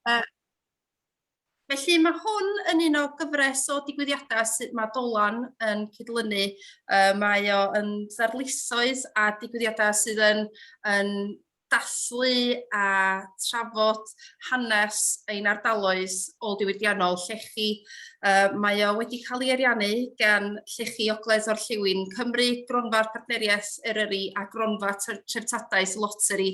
Yy Felly mae hwn yn un o gyfres o digwyddiadau sydd mae Dolan yn cydlynu. Uh, mae o yn ddarlithoedd a digwyddiadau sydd yn, yn dathlu a trafod hanes ein ardaloedd ôl diwydiannol llechi. Uh, mae o wedi cael ei ariannu gan llechi Ogledd o'r Lliwin Cymru, Gronfa'r Partneriaeth Eryri a Gronfa Treftadaeth Loteri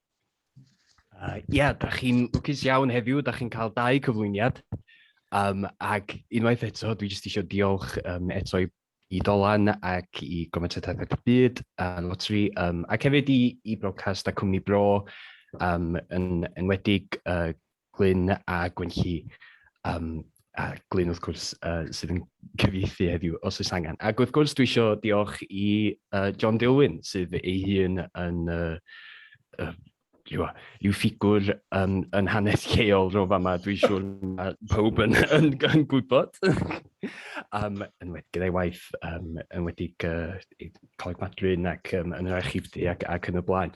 Uh, yeah, da chi'n lwcus iawn heddiw, da chi'n cael dau cyflwyniad. Um, ac unwaith eto, dwi jyst eisiau diolch um, eto i, i Dolan ac i Gometadaeth y Byd a Lotri, um, ac hefyd i, i Brocast a Cwmni Bro, um, yn enwedig uh, Glyn a Gwenlli, um, a Glyn wrth gwrs uh, sydd yn cyfieithu heddiw os oes angen. Ac wrth gwrs dwi eisiau diolch i uh, John Dilwyn sydd ei hun yn uh, uh, yw, yw ffigwr um, yn hanes lleol rho fama, dwi'n siŵr mae pawb yn, yn, yn gwybod. um, yn wedi gyda'i waith, um, yn wedi uh, Coleg Madryn ac um, yn yr archifdy ac, ac yn y blaen.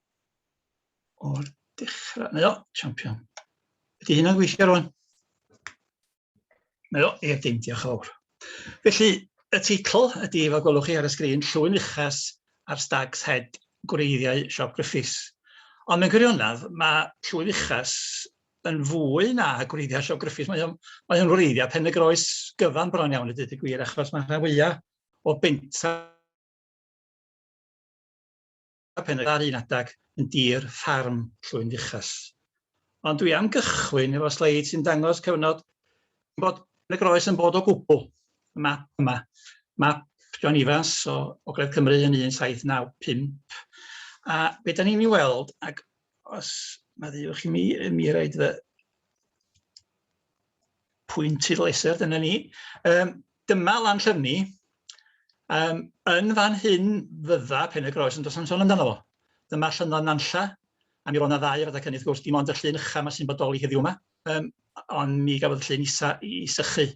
o'r dechrau. Mae o, champion. Ydy hynna'n gweithio rwan? Mae o, ie, dim, diolch fawr. Felly, y teitl ydy, fel gwelwch chi ar y sgrin, Llwyn Uchas ar Stag's Head, gwreiddiau Siop Griffiths. Ond mewn gwirionedd, mae Llwyn Uchas yn fwy na gwreiddiau Siop Griffiths. Mae o'n, mae o'n wreiddiau pen y groes gyfan bron iawn i dweud y gwir, achos mae rhan fwyaf o benta a phen yr un adag yn dir ffarm Llwyn Fuchas. Ond dwi am gychwyn efo sleid sy'n dangos cyfnod bod yn y groes yn bod o gwbl. Y map yma, map John Evans o Ogledd Cymru yn 1795. A be da ni'n ei weld, ac os mae ddiwch i mi, mi rhaid fy pwynt i leser, dyna ni. Um, dyma lan llyfni. Um, yn fan hyn fydda pen y groes, ond does am sôn amdano fo. Dyma llynnodd Nanlla, a mi roedd yna ddau ar y cynnydd, gwrs, dim ond y llun ycha mae sy'n bodoli heddiw yma, um, ond mi gafodd y llun isa i sychu.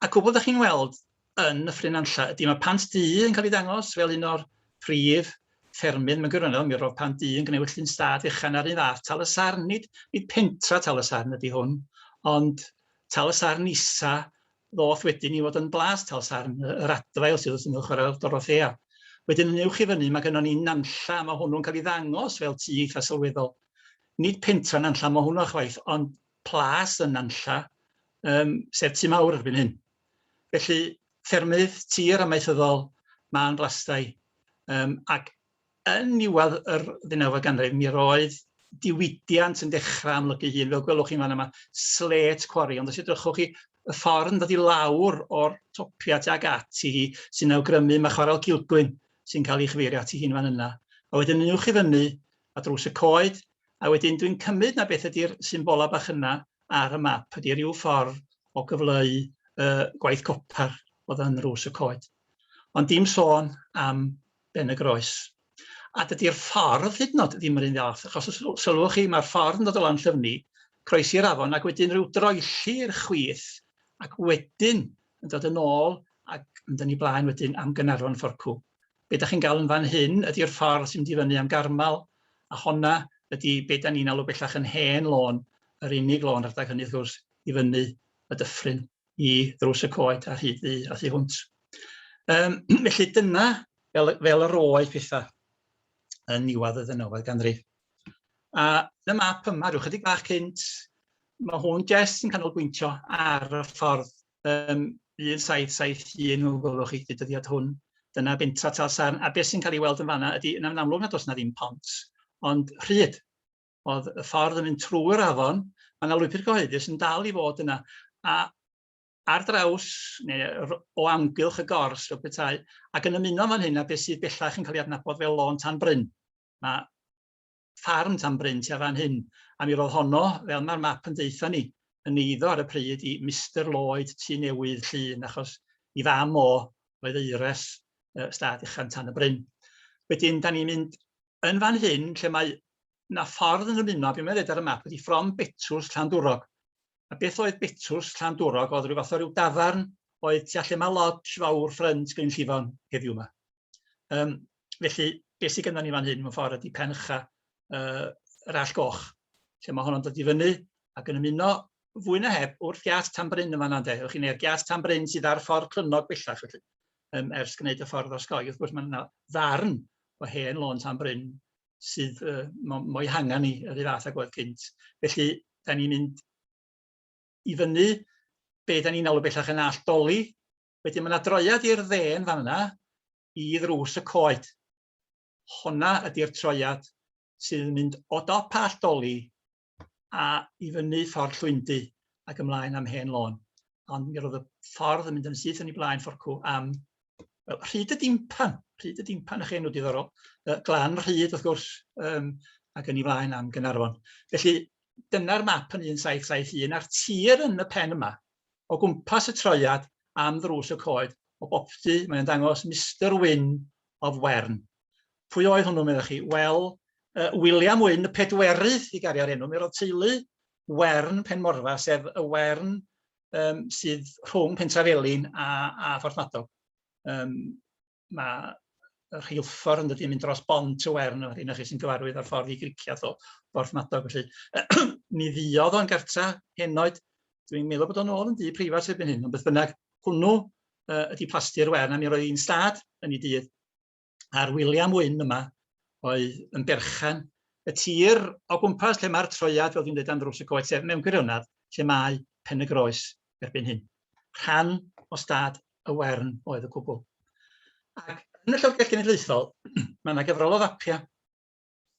Ac o bod ydych chi'n weld, yn y ffrynanlla ydy mae pant du yn cael ei ddangos fel un o'r prif ffermydd mewn gwirionedd, mi roedd pant du yn gwneud llun stad fechan ar un fath tal y sarn, nid, nid pentra tal y sarn ydy hwn, ond tal y sarn isa ddoth wedyn i fod yn blas tal sarn, yr adfail sydd wrth ymyl chwarae'r Dorothea. Wedyn yn uwch i fyny mae gennon ni Nanlla, mae hwnnw'n cael ei ddangos fel tu eitha sylweddol. Nid pentra Nanlla mae hwnnw chwaith, ond plas yn Nanlla, um, sef tu mawr erbyn hyn. Felly, ffermydd tir amaethyddol, mân blastai, um, ac yn niwedd yr ddeunawfed ganrif, mi roedd diwydiant yn dechrau amlygu hun. Fel gwelwch chi'n fan yma, slet cwari, ond os edrychwch chi, y ffordd yn dod i lawr o'r topia tuag ati hi sy'n awgrymu mae chwaral Cilgwyn sy'n cael ei chyfeirio ati hi'n fan yna. A wedyn yn uwch i fyny, a drws y coed, a wedyn dwi'n cymryd na beth ydy'r symbolau bach yna ar y map ydy ryw ffordd o gyfleu y gwaith copar oedd yn rws y coed. Ond dim sôn am Ben y Groes. A dydy'r ffordd hyd yn oed ddim yr un fath, achos os sylwch chi, mae'r ffordd yn dod o lan llyfni, croesi'r afon, ac wedyn rhyw droelli i'r chwith, ac wedyn yn dod yn ôl ac yn dynnu blaen wedyn am Gynarfon Fforcw. be da chi'n gael yn fan hyn ydy'r ffordd sy'n mynd i fyny am Garmal, a honna ydy be da ni'n alw bellach yn hen lôn, yr unig lôn rhedeg hynny wrth gwrs i fyny y dyffryn i ddrws y coed ar hyd ddu a thu hwnt. Um, felly dyna fel, fel yr oedd pethau yn niwedd y ddynawfed ganrif. A y map yma, rhyw chydig bach cynt, mae hwn jes yn canolbwyntio ar y ffordd um, 1771 o gwelwch chi y dyddiad hwn. Dyna bentra Talsarn, a beth sy'n cael ei weld yn fanna ydy, yn amlwg nad oes na ddim pont, ond rhyd. Oedd y ffordd yn mynd trwy'r afon, mae yna lwybr gyhoeddus yn dal i fod yna, a ar draws, neu o amgylch y gors fel petai, ac yn ymuno fan hyn a beth sydd bellach yn cael ei adnabod fel lôn tan bryn. Mae ffarm tan bryn tua fan hyn, a mi roedd honno, fel mae'r map yn deutha ni, yn eiddo ar y pryd i Mister Lloyd Tŷ Newydd Llŷn, achos i fam o oedd eires uh, stad uchan tan y bryn. Wedyn, da ni'n mynd yn fan hyn, lle mae na ffordd yn ymuno, beth mae'n dweud ar y map, ydy ffrom Betws Llandwrog. A beth oedd Betws Llandwrog? Oedd rhyw fath o ryw dafarn oedd tu allan mae lodge fawr ffrynt Glyn Llifon heddiw yma. Um, felly, beth sydd gennym ni fan hyn mewn ffordd ydy pen ycha uh, yr all goch, lle mae honno'n dod i fyny ac yn ymuno fwy na heb wrth gias tan bryn yn fanna, de. Ewch chi'n neu'r gias tan bryn sydd ar ffordd crynog bellach, felly, um, ers gwneud y ffordd o'r sgoi. Wrth gwrs, mae yna ddarn o hen lôn tan bryn sydd uh, mo'i hangen ni yr un fath ag oedd cynt. Felly, da ni'n mynd i fyny, be da ni'n alw bellach yn all doli, Wedyn mae yna droiad i'r dde yn fan yna i ddrws y coed. Honna ydy'r troiad sydd yn mynd o dop all doli a i fyny ffordd llwyndu ac ymlaen am hen lôn. Ond mi roedd y ffordd yn mynd yn syth yn ei blaen fforcw am Wel, rhyd y dimpan, rhyd y dimpan eich enw diddorol, uh, glan rhyd wrth gwrs, um, ac yn ei flaen am Gynarfon. Felly, dyna'r map yn 1771 a'r tir yn y pen yma, o gwmpas y traead am ddrws y coed, o boptu mae'n dangos Mister Wyn of Wern. Pwy oedd hwnnw, meddech chi? Wel, uh, William Wyn, y pedwerydd i gariad enw, mi roedd teulu Wern Penmorfa, sef y Wern um, sydd rhwng Pentrafelin a, a Phorthmadog. Um, mae y rheilffordd yn dydy, yn mynd dros bont to Wern, a hynna chi sy'n gyfarwydd â'r ffordd i Griciath o Borthmadog. Felly, mi ddiodd o'n gartra henoed. Dwi'n meddwl bod o'n ôl yn dŷ preifat erbyn hyn, ond beth bynnag, hwnnw uh, ydy plasti'r Wern, a mi roedd hi'n stad yn ei dydd. A'r William Wyn yma oedd yn berchen y tir o gwmpas lle mae'r troiad, fel dwi'n dweud am ddrws y coed, sef mewn gwirionedd lle mae Pen y Groes erbyn hyn. Rhan o stad y Wern oedd y cwbl. Ac yn y Llyfrgell Genedlaethol, mae yna gyfrol o fapiau.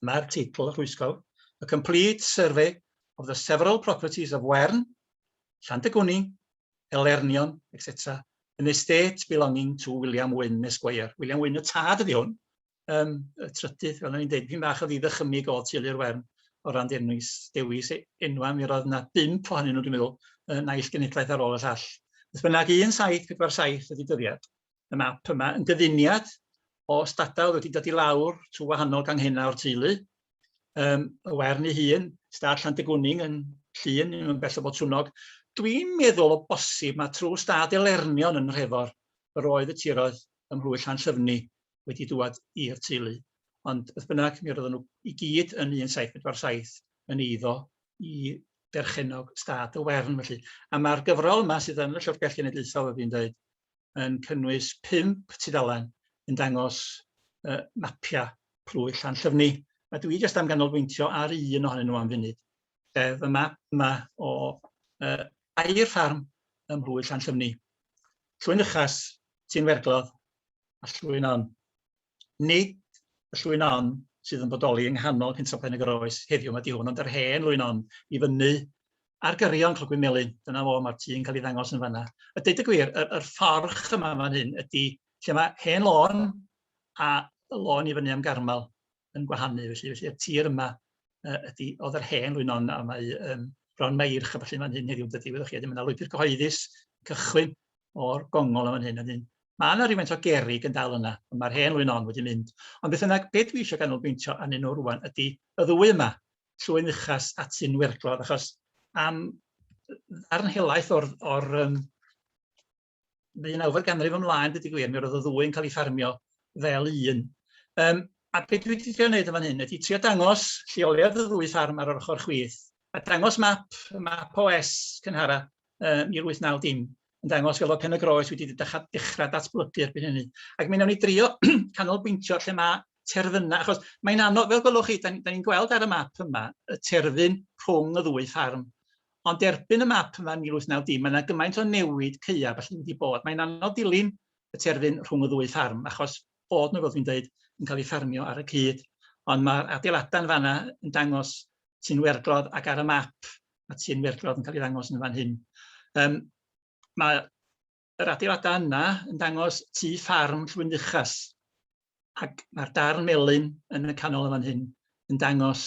Mae'r teitl rhwysgol, A Complete Survey of the Several Properties of Wern, Llandegwni, Elernion, etc. An Estate Belonging to William Wynne Esquire. William Wynne y tad ydi hwn, um, y trydydd, fel o'n i'n dweud, fi'n bach o ddiddechymig o Tylu'r Wern o ran dewis, dewis e, enwa, mi roedd yna bimp ohonyn nhw, dwi'n meddwl, y naill genedlaeth ar ôl y llall. Beth bynnag 1747 ydy dyddiad y map yma, yn gyfuniad o stadau wedi dod i lawr trwy wahanol ganghennau o'r teulu, um, y wern ei hun, stad Llandegwning yn llun, yn bell o Botwnog. Dwi'n meddwl o bosib mae trwy stad Elernion yn Nhrefor, yr oedd y tiroedd ym Mhlwy Llan Llyfni wedi dŵad i'r teulu. Ond beth bynnag, mi roedden nhw i gyd yn 1747 yn eiddo i berchennog stad y Wern felly. A mae'r gyfrol yma sydd yn y Llyfrgell Genedlaethol, wedi yn dweud, yn cynnwys pump tudalen yn dangos uh, mapiau plwy Llanllyfni. A dwi jyst am ganolbwyntio ar un ohonyn nhw am funud, sef y map yma o uh, air ffarm ym Mhlwy Llanllyfni. Llwyn Uchas, Tîn Werglodd, a llwyn on. Nid y llwyn on sydd yn bodoli yng nghanol Pentref Pen y Groes heddiw mae di hwn, ond yr hen lwyn on i fyny ar gyrion Clogwyn Melin. Dyna fo, mae'r tŷ'n cael ei ddangos yn fanna. A deud y gwir, yr, yr fforch yma fan hyn ydy lle mae hen lôn a lôn i fyny am garmel. yn gwahanu. Felly, felly y tir yma uh, ydy, oedd yr hen rwynon a mae um, bron mae irch a felly mae'n hyn heddiw dydy, wyddoch chi, ydy, mae yna lwybr cyhoeddus cychwyn o'r gongol am hyn. Ydyn, mae yna rhywfaint o gerig yn dal yna, ond mae'r hen rwynon wedi mynd. Ond beth yna, beth dwi eisiau ganolbwyntio anyn nhw rwan ydy y ddwy yma, llwy'n uchas at sy'n werglodd, achos am ddarn helaeth o'r, or, um, ddeunawfed ganrif ymlaen, dydy gwir, mi roedd y ddwy yn cael ei ffarmio fel un. Um, a beth dwi wedi trio wneud yn fan hyn ydy trio dangos lleoliad y ddwy ffarm ar yr ochr chwith, a dangos map, map OS cynhara uh, 1890, yn dangos fel o Pen y Groes wedi dechrau, dechrau datblygu erbyn hynny. Ac mi wnawn ni drio canolbwyntio lle mae terfynau, achos mae'n anodd, fel gwelwch chi, da ni'n ni gweld ar y map yma, y terfyn rhwng y ddwy ffarm Ond erbyn y map yma yn 1890, mae yna gymaint o newid caeaf felly wedi bod. Mae'n anodd dilyn y terfyn rhwng y ddwy ffarm, achos bod nhw, fel dwi'n dweud, yn cael eu ffarmio ar y cyd. Ond mae'r adeiladau yn fanna yn dangos Tyn Werglodd ac ar y map mae Tyn Werglodd yn cael ei ddangos yn fan hyn. Um, mae yr adeiladau yna yn dangos tu ffarm Llwynfuchas. Ac mae'r darn melyn yn y canol yn fan hyn yn dangos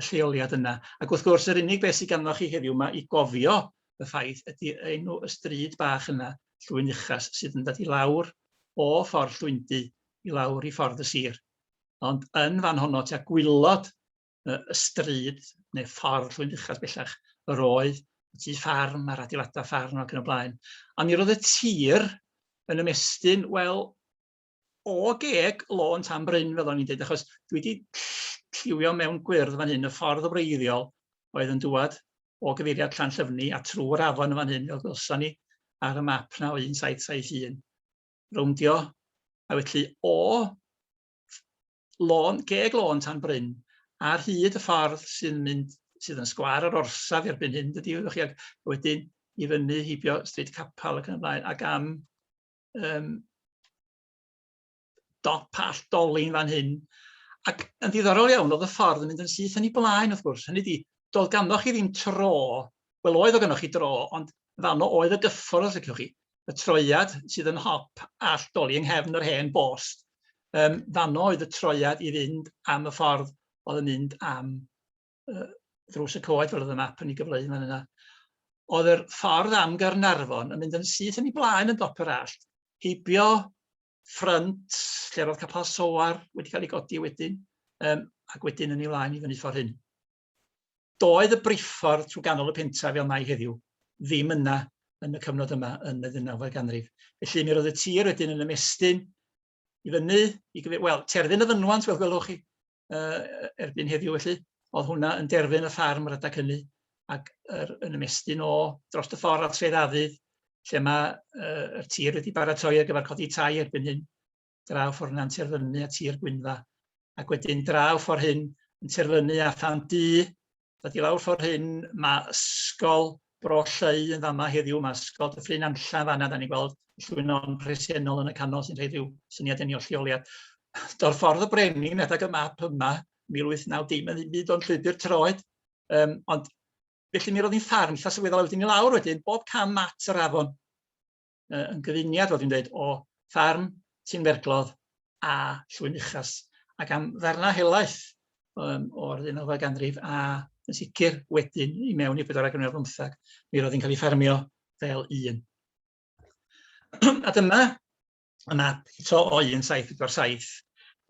y lleoliad yna. Ac wrth gwrs, yr unig beth sydd ganddo chi heddiw yma i gofio y ffaith ydy enw y stryd bach yna, Llwynfuchas, sydd yn dod i lawr o ffordd Llwyndy i lawr i ffordd y sir. Ond yn fan honno, tua gwylod y stryd neu ffordd llwyn uchaf bellach, yr oedd y tu ffarm a'r adeiladau ffarm ac yn y blaen. A mi roedd y tir yn ymestyn, wel, o geg lôn tan bryn, fel o'n i'n dweud, achos dwi wedi lliwio mewn gwyrdd fan hyn, y ffordd wreiddiol oedd yn dŵad o gyfeiriad Llan Llyfni a trwy'r afon yn fan hyn, fel gwelson ni ar y map na o 1771. Rowndio, a felly o lôn, geg lôn tan bryn, ar hyd y ffordd sy'n mynd, sydd yn sgwar yr orsaf erbyn hyn, dydy, wyddoch chi, ac wedyn i fyny heibio Stryd Capal ac yn y blaen, ac am um, dop all dolin fan hyn. Ac yn ddiddorol iawn, oedd y ffordd yn mynd yn syth yn ei blaen, wrth gwrs. Hynny di, doedd ganddoch chi ddim tro, wel oedd o ganddoch chi dro, ond fanno oedd y gyffordd, os ydych chi. y troiad sydd yn hop Allt Doli yng nghefn yr hen bost. Um, fanno oedd y troiad i fynd am y ffordd oedd yn mynd am uh, ddrws y coed fel oedd y map yn ei gyfleu fan yna. Oedd yr ffordd am Garnarfon yn mynd yn syth yn ei blaen yn dop yr allt, heibio ffrynt lle oedd capel soar wedi cael ei godi wedyn, um, ac wedyn yn ei flaen i fyny ffordd hyn. Doedd y briffordd trwy ganol y pentref fel mae heddiw ddim yna yn y cyfnod yma yn y ddeunawfed ganrif. Felly mi roedd y tir wedyn yn ymestyn i fyny, i gyfeir, wel, terfyn y fynwant, fel gwelwch chi, uh, erbyn heddiw felly, oedd hwnna yn derfyn y ffarm yr adag hynny, ac er, yn ymestyn o dros y ffordd at Sedd Afydd, lle mae uh, y tir wedi baratoi ar gyfer codi tai erbyn hyn, draw ffordd yna'n terfynu at Sir Gwynfa, ac wedyn draw ffordd hyn yn terfynu a than du, dod i lawr ffordd hyn, mae ysgol Bro Lleu yn fama heddiw, mae ysgol Dyffryn Anllan fanna, da ni'n gweld llwynon presennol yn y canol sy'n rhoi rhyw syniad yn ei lleoliad. Dorffordd y Brenin, adag y map yma, 1890, mae'n ddim byd o'n llwybr troed, um, ond felly mi roedd hi'n ffarm eitha sylweddol wedyn i lawr wedyn, bob cam at yr afon. uh, yn gyfuniad, fel dwi'n dweud, o farn, tinferglodd a llwyn uchas. Ac am ddarnau helaeth um, o'r ddeunawfed ganrif a yn sicr wedyn i mewn i'r bedwarau ganrif bymthag, mi roedd hi'n cael ei ffermio fel un. a dyma y map eto o 1747,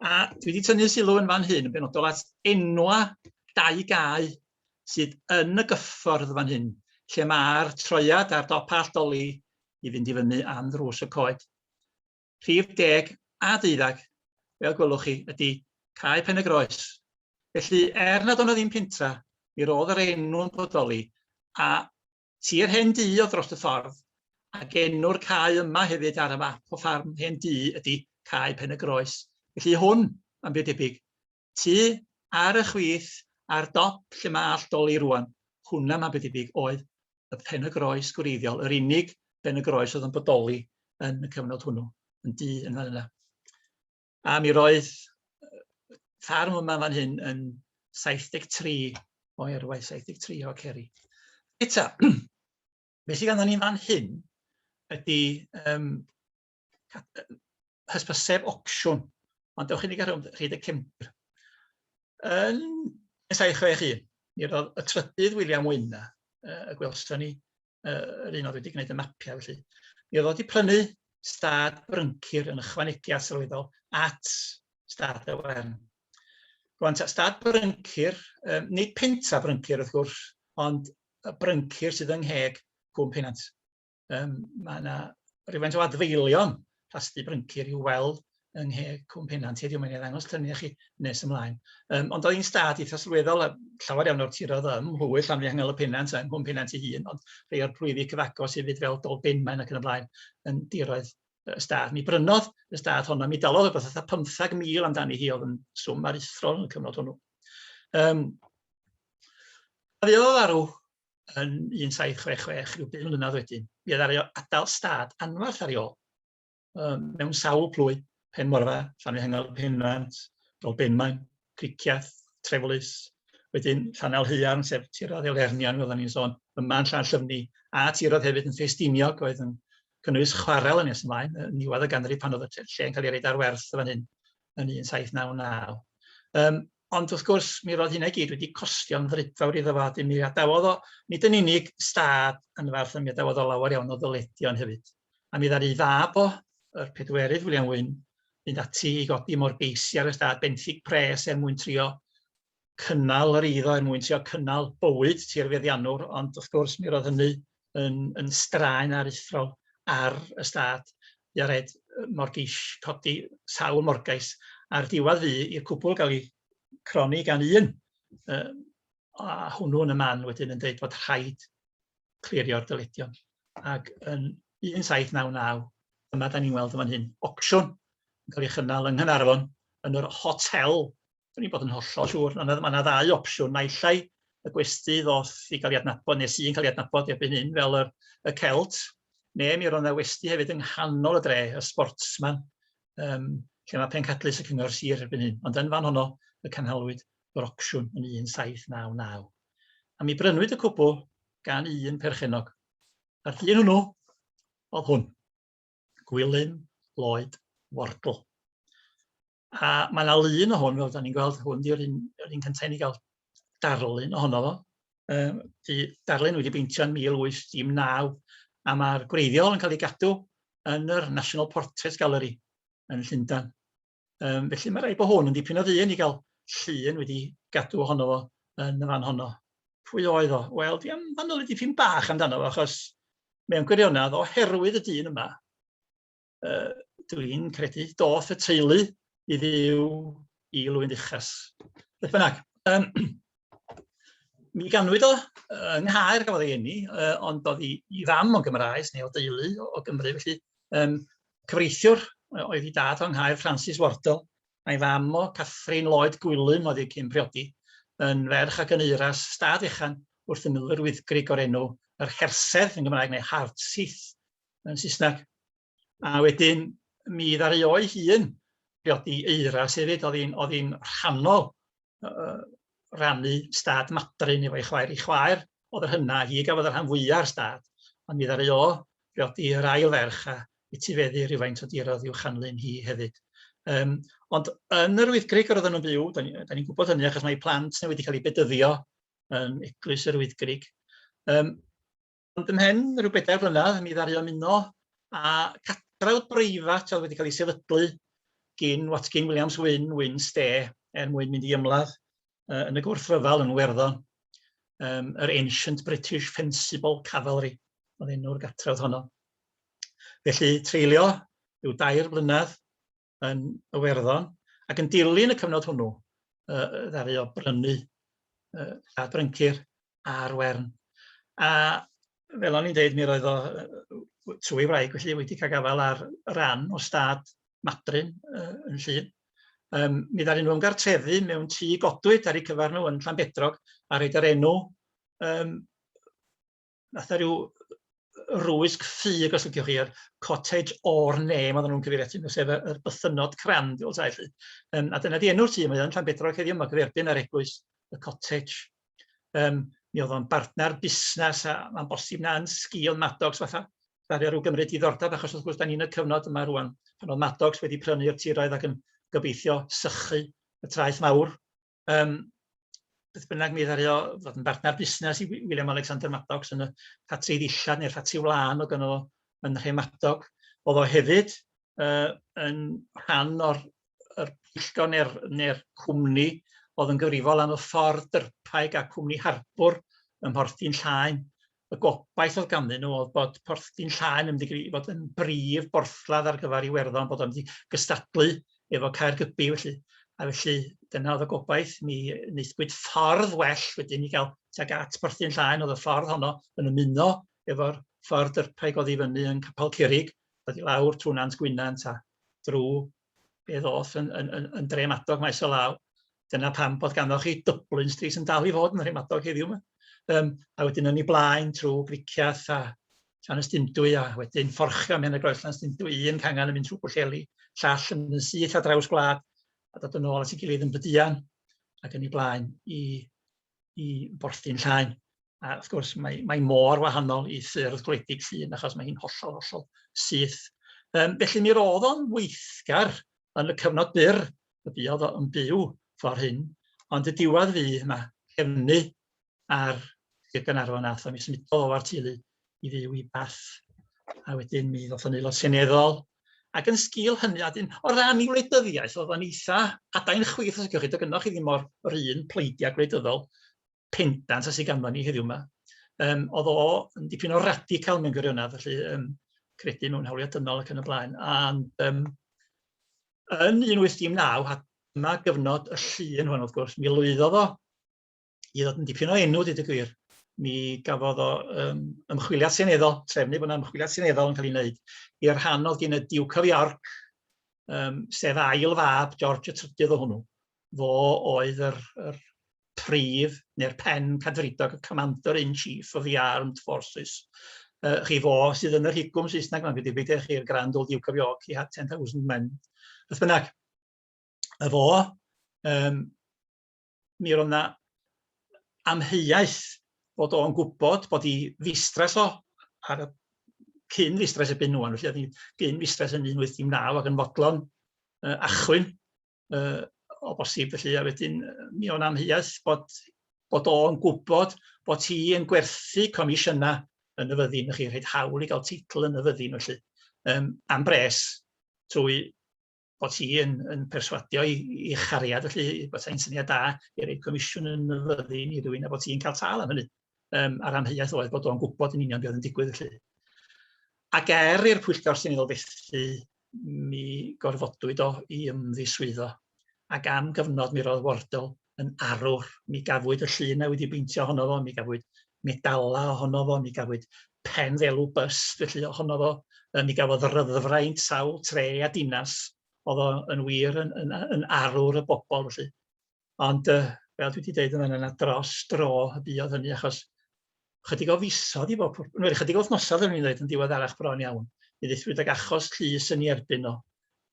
a dwi wedi tynnu sylw yn fan hyn yn benodol at enwa dau gau sydd yn y gyffordd fan hyn, lle mae'r troiad ar dop Allt Dolly i fynd i fyny am ddrws y coed. Rhif deg a deuddag, fel gwelwch chi, ydy Cae Pen-y-groes. Felly, er nad o'n ddim pentra, mi roedd yr enw'n bodoli, a tir hen du o dros y ffordd, ac enw'r cae yma hefyd ar y map o ffarm hen du ydy Cae Pen-y-groes. Felly hwn, am byd debyg, Tŷ ar y chwith ar dop lle mae Allt Doli rŵan, hwnna mae'n debyg oedd y Pen-y-groes gwreiddiol, yr unig Ben-y-groes oedd yn bodoli yn y cyfnod hwnnw, yn du yn fan yna. A mi roedd ffarm yma fan hyn yn 73 o erwaith, 73 o ceri. Eta, beth sydd ganddyn ni fan hyn ydy um, hysbyseb opsiwn, ond dewch i ni gael rhyd y cefndir. Yn esau 61, mi roedd y trydydd William Wyna, y gwelson ni, yr un oedd wedi gwneud y mapiau felly, mi oedd wedi prynu stad bryncir yn ychwanegu at sylweddol at stad y wern. Rwan, stad bryncir, um, nid pentra bryncir wrth gwrs, ond y bryncir sydd yng ngheg Cwm Penant. Yym mae 'na rywfaint o adfeilion plasty bryncir i'w weld yng nghe Cwm Pennant heddiw, mae'n ei ddangos lluniau chi nes ymlaen. Um, ond oedd hi'n stad eitha sylweddol, a llawer iawn o'r tirodd ym Mhwyll, Llanfihangel y Pennant a Nghwm Pennant ei hun, ond rhai o'r plwyfi cyfagos hefyd fel Dol Benmaen ac yn y blaen yn diroedd y stad. Mi brynodd y stad honno, mi dalodd rhywbeth fatha 15,000 amdani hi oedd yn swm aruthrol yn y cyfnod hwnnw. Um, a ddeodd arw yn 1766, rhyw bum mlynedd wedyn, mi oedd ar adael stad anfarth ar ei ôl, um, mewn sawl plwy, Pen Morfa, Llanfihangel, Penfant, Dolbenmaen, Criciath, Treflus, wedyn Llanel Heuarn, sef tirodd Elernion, fel ni'n sôn, yma yn Llanllyfni, a tirodd hefyd yn Ffestiniog, oedd yn cynnwys chwarel yn nes ymlaen, yn niwedd y ganrif pan oedd y lle yn cael ei reid ar werth fan hyn yn 1799. Um, Ond wrth gwrs, mi roedd hynna i gyd wedi costio'n frydfawr iddo fo, a 'dyn mi adawodd o, nid yn unig stad yn Faerth, ond mi adawodd o lawer iawn o ddyledion hefyd. A mi ddaru ei fab o, yr pedwerydd William Wynne, fynd ati i godi morgeisi ar y stad, benthyg pres er mwyn trio cynnal yr eiddo, er mwyn trio cynnal bywyd tirfeddiannwr, ond wrth gwrs mi roedd hynny yn yn straen aruthrol ar y stad. Jared Morgeish, codi sawl morgais ar diwadd fu i'r cwbl gael ei cronni gan un. Uh, a hwnnw yn y man wedyn yn dweud bod rhaid clirio'r dyledion. Ac yn 1799, dyma da ni'n weld yn fan hyn, ocsiwn yn cael ei chynnal yng Nghynarfon yn yr hotel Dwi'n bod yn hollol siŵr, ond mae yna ddau opsiwn, naill ai y gwesti ddoth i gael ei adnabod, neu sy'n cael ei adnabod erbyn hyn fel y, y celt, neu mi roedd yna westi hefyd yng nghanol y dre, y sportsman, um, lle mae pencadlys y cyngor sir erbyn hyn. Ond yn fan honno, y canhalwyd yr opsiwn yn 1799. A mi brynwyd y cwbl gan un perchenog. A'r dyn hwnnw oedd hwn, Gwilym Lloyd Wardle. A mae yna lun o hwn, fel da ni'n gweld, hwn di'r un, yr un cyntaf i ni gael darlun ohono fo. Um, di darlun wedi beintio yn 1819, a mae'r gwreiddiol yn cael ei gadw yn yr National Portrait Gallery yn Llundain. Um, felly mae rhaid bod hwn yn dipyn o ddyn i gael llun wedi gadw ohono fo yn y fan honno. Pwy oedd o? Wel, di am fanol i dipyn bach amdano fo, achos mewn gwirionedd, oherwydd y dyn yma, uh, dwi'n credu, doth y teulu i fyw i Lwyn Uchas. Beth bynnag, um, mi ganwyd o yng Nghaer gafodd ei enni, uh, ond oedd i, i fam o'n Gymraes neu o deulu o, o Gymru, felly um, cyfreithiwr oedd i dad o'n Nghaer Francis Wardle, a'i fam o Catherine Lloyd Gwilym oedd ei cyn priodi, yn ferch ac yn eiras stad echan wrth y milwyr wyddgrig o'r enw yr Hersedd yn Gymraeg neu Hardsith yn Saesneg. A wedyn mi ddaru o'i hun briodi Eira hefyd, oedd hi'n oedd hi'n rhannol uh, rannu stad madrin efo'i chwaer. Ei chwaer oedd yr hynna, hi gafodd y rhan fwyaf o'r stad, ond mi ddaru o briodi yr ail ferch a etifeddu rhywfaint o dirodd i'w chanlyn hi hefyd. Um, ond yn yr Wyddgrig yr oedden nhw'n byw, da ni'n ni, ni gwybod hynny achos mae plant neu wedi cael eu bedyddio yn Eglwys yr Wyddgrig. Um, Ond ymhen rhyw bedair blynedd mi ddaru ymuno â catref breifat oedd wedi cael ei sefydlu gin Watkin Williams Wyn, Wyn Ste, er mwyn mynd i ymladd uh, yn y gwrthryfel yn Werddon, um, yr Ancient British Fencible Cavalry oedd enw'r gatref honno. Felly treulio rhyw dair blynedd yn Iwerddon, ac yn dilyn y cyfnod hwnnw, uh, ddaru o brynu uh, a bryncir ar wern. A fel o'n i'n dweud, mi roedd o trwy wraig, felly wedi cael gafael ar ran o stad Madryn uh, yn Llun. Um, mi ddaru nhw ymgartrefu mewn tŷ godwyd ar eu cyfer nhw yn Llanbedrog a rhaid yr enw um, fatha rhyw rwysg ffug os liciwch chi, yr cottage or name oedden nhw'n cyfeirio atyn nhw, sef y yr bythynnod crann tu ôl tai 'lly. Yym a dyna 'di enw'r tŷ, mae o yn Llanbedrog heddiw, ma' gyferbyn â'r eglwys, y cottage. Yym mi o'dd o'n bartner busnes a ma'n bosib na yn sgil Maddox fatha ddaru rw gymryd diddordeb achos wrth gwrs 'dan ni yn y cyfnod yma rŵan pan o'dd Maddox wedi prynu'r tiroedd ac yn gobeithio sychu y traeth mawr um, beth bynnag mi ddario fod yn bartner busnes i William Alexander Maddox yn y ffatri ddillad neu'r ffatri wlân o gyno yn Rhemadog. Oedd o hefyd uh, yn rhan o'r er pwyllgor neu'r neu cwmni oedd yn gyfrifol am y ffordd dyrpaig a cwmni harbwr ym Mhorthin Llaen Y gobaith oedd ganddyn nhw oedd bod Porth Dinllaen yn mynd i gyd- i fod yn brif borthladd ar gyfer Iwerddon, bod o'n mynd i gystadlu efo Caergybi felly. A felly, dyna oedd y gobaith. Mi wnaethpwyd ffordd well wedyn i gael tuag at Porth Dinllaen, oedd y ffordd honno yn ymuno efo'r ffordd dyrpaig oddi fyny yn Capel Curig, dod i lawr trwy Nant Gwynant a drwy fe ddoth yn, yn, yn, yn dremadog maes o law. Dyna pam bod ganddo chi Dublin Street yn dal i fod yn dremadog heddiw yma. Um, a wedyn yn ei blaen trwy Griciath a Llan Ystindwy a wedyn fforchio mewn y groes Llan Ystindwy, un cangan yn mynd trwy Bwlleli, llall yn mynd syth a draws gwlad a dod yn ôl at ei gilydd yn bydian ac yn ei blaen i i borthi'n llaen. A wrth gwrs, mae, mae mor wahanol i ffyrdd gwledig llun achos mae hi'n hollol, hollol syth. Um, felly mi roedd o'n weithgar yn y cyfnod byr y buodd o'n byw ffordd hyn, ond y diwedd fydd yma, cefnu ar Sir Gaernarfon a Thomys, mi dodd o'r teulu i fyw i Bath, a wedyn mi ddoth yn Aelod Seneddol, ac yn sgil hynny, a wedyn o ran ei wleidyddiaeth, oedd o'n eitha adain chwith, os ydych chi, gynnwch chi ddim o'r yr un pleidiau gwleidyddol pendant a sydd ganddo ni heddiw yma. Um, oedd o yn dipyn o radical mewn gwirionedd, felly um, credu mewn hawliau dynol ac yn y blaen. And, um, yn 1819, a dyma gyfnod y llun hwn wrth gwrs, mi lwyddodd o i ddod yn dipyn o enw, dweud y gwir. Mi gafodd o um, ymchwiliad seneddol, trefnu bod yna ymchwiliad seneddol yn cael ei wneud i'r rhan oedd gen y Duke of York, um, sef ail fab, George y trydydd o hwnnw. Fo oedd yr, yr prif neu'r pen cadfridog, y commander in chief of the armed forces. Uh, chi fo sydd yn yr higwm Saesneg mae'n gyda beth chi'r Grand Old Duke of York, he had 10,000 men. Beth bynnag, y fo, um, mi roedd 'na amheuaeth bod o'n gwybod bod hi ddistress o ar y cyn ddistress erbyn ŵan, felly oedd hi gyn ddistress yn 1819 ac yn fodlon uh, achwyn uh, o bosib felly, a wedyn mi o'n amheuaeth bod, bod o'n gwybod bod hi yn gwerthu comisiynau yn y fyddin, felly rhaid hawl i gael teitl yn y fyddin felly, um, am bres trwy bod hi yn yn perswadio i i chariad felly bod hi'n syniad da i roi comisiwn yn y fyddin i rywun a bod hi'n cael tâl am hynny. Yym a'r amheuaeth oedd bod o'n gwybod yn union beth oedd yn digwydd felly. Ac er i'r pwyllgor sy'n seneddol fethu mi gorfodwyd o i ymddiswyddo ac am gyfnod mi roedd Wardle yn arwr. Mi gafwyd y llun a wedi beintio ohono fo, mi gafwyd medala ohono fo, mi gafwyd pen ddelw bust felly ohono fo, yy mi gafodd ryddfraint sawl tre a dinas, oedd o yn wir yn, yn, yn arwr y bobl felly. Ond uh, fel dwi wedi deud yn fanna, na dros dro y buodd hynny achos chydig o fisoedd i bob pwrpas, neu chydig o wythnosau yn ddweud yn diweddarach bron iawn, i ddethryd ag achos llys yn ei erbyn o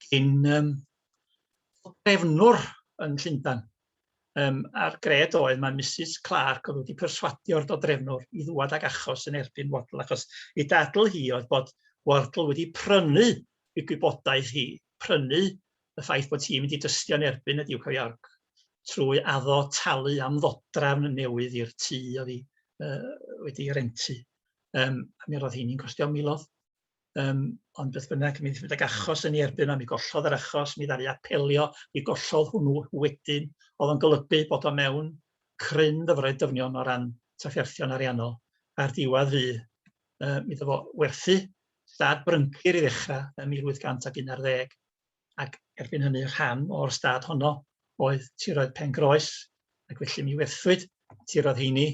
gyn um, drefnwr yn Llundan. Um, a'r gred oedd mae Mrs Clark oedd wedi perswadio'r dodrefnwr i ddwad ag achos yn erbyn Waddle, achos ei dadl hi oedd bod Waddle wedi prynu i gwybodaeth hi, prynu y ffaith bod hi'n mynd i dystio yn erbyn y Duke of York trwy addo talu am ddodrafn newydd i'r tŷ oedd hi uh, wedi rentu. Um, a mi roedd hi'n costio milodd. Um, ond beth bynnag, mi ddysgwyd ag achos yn ei erbyn yma, mi gollodd yr achos, mi ddari apelio, mi gollodd hwnnw wedyn, oedd o'n golygu bod o mewn cryn ddyfroedd dyfnion o ran trafferthion ariannol. A'r diwedd fi, uh, mi ddefo werthu stad bryncir i ddechrau yn 1811. ac erbyn hynny rhan o'r stad honno oedd tiroedd Pengroes, ac felly mi werthwyd tiroedd heini.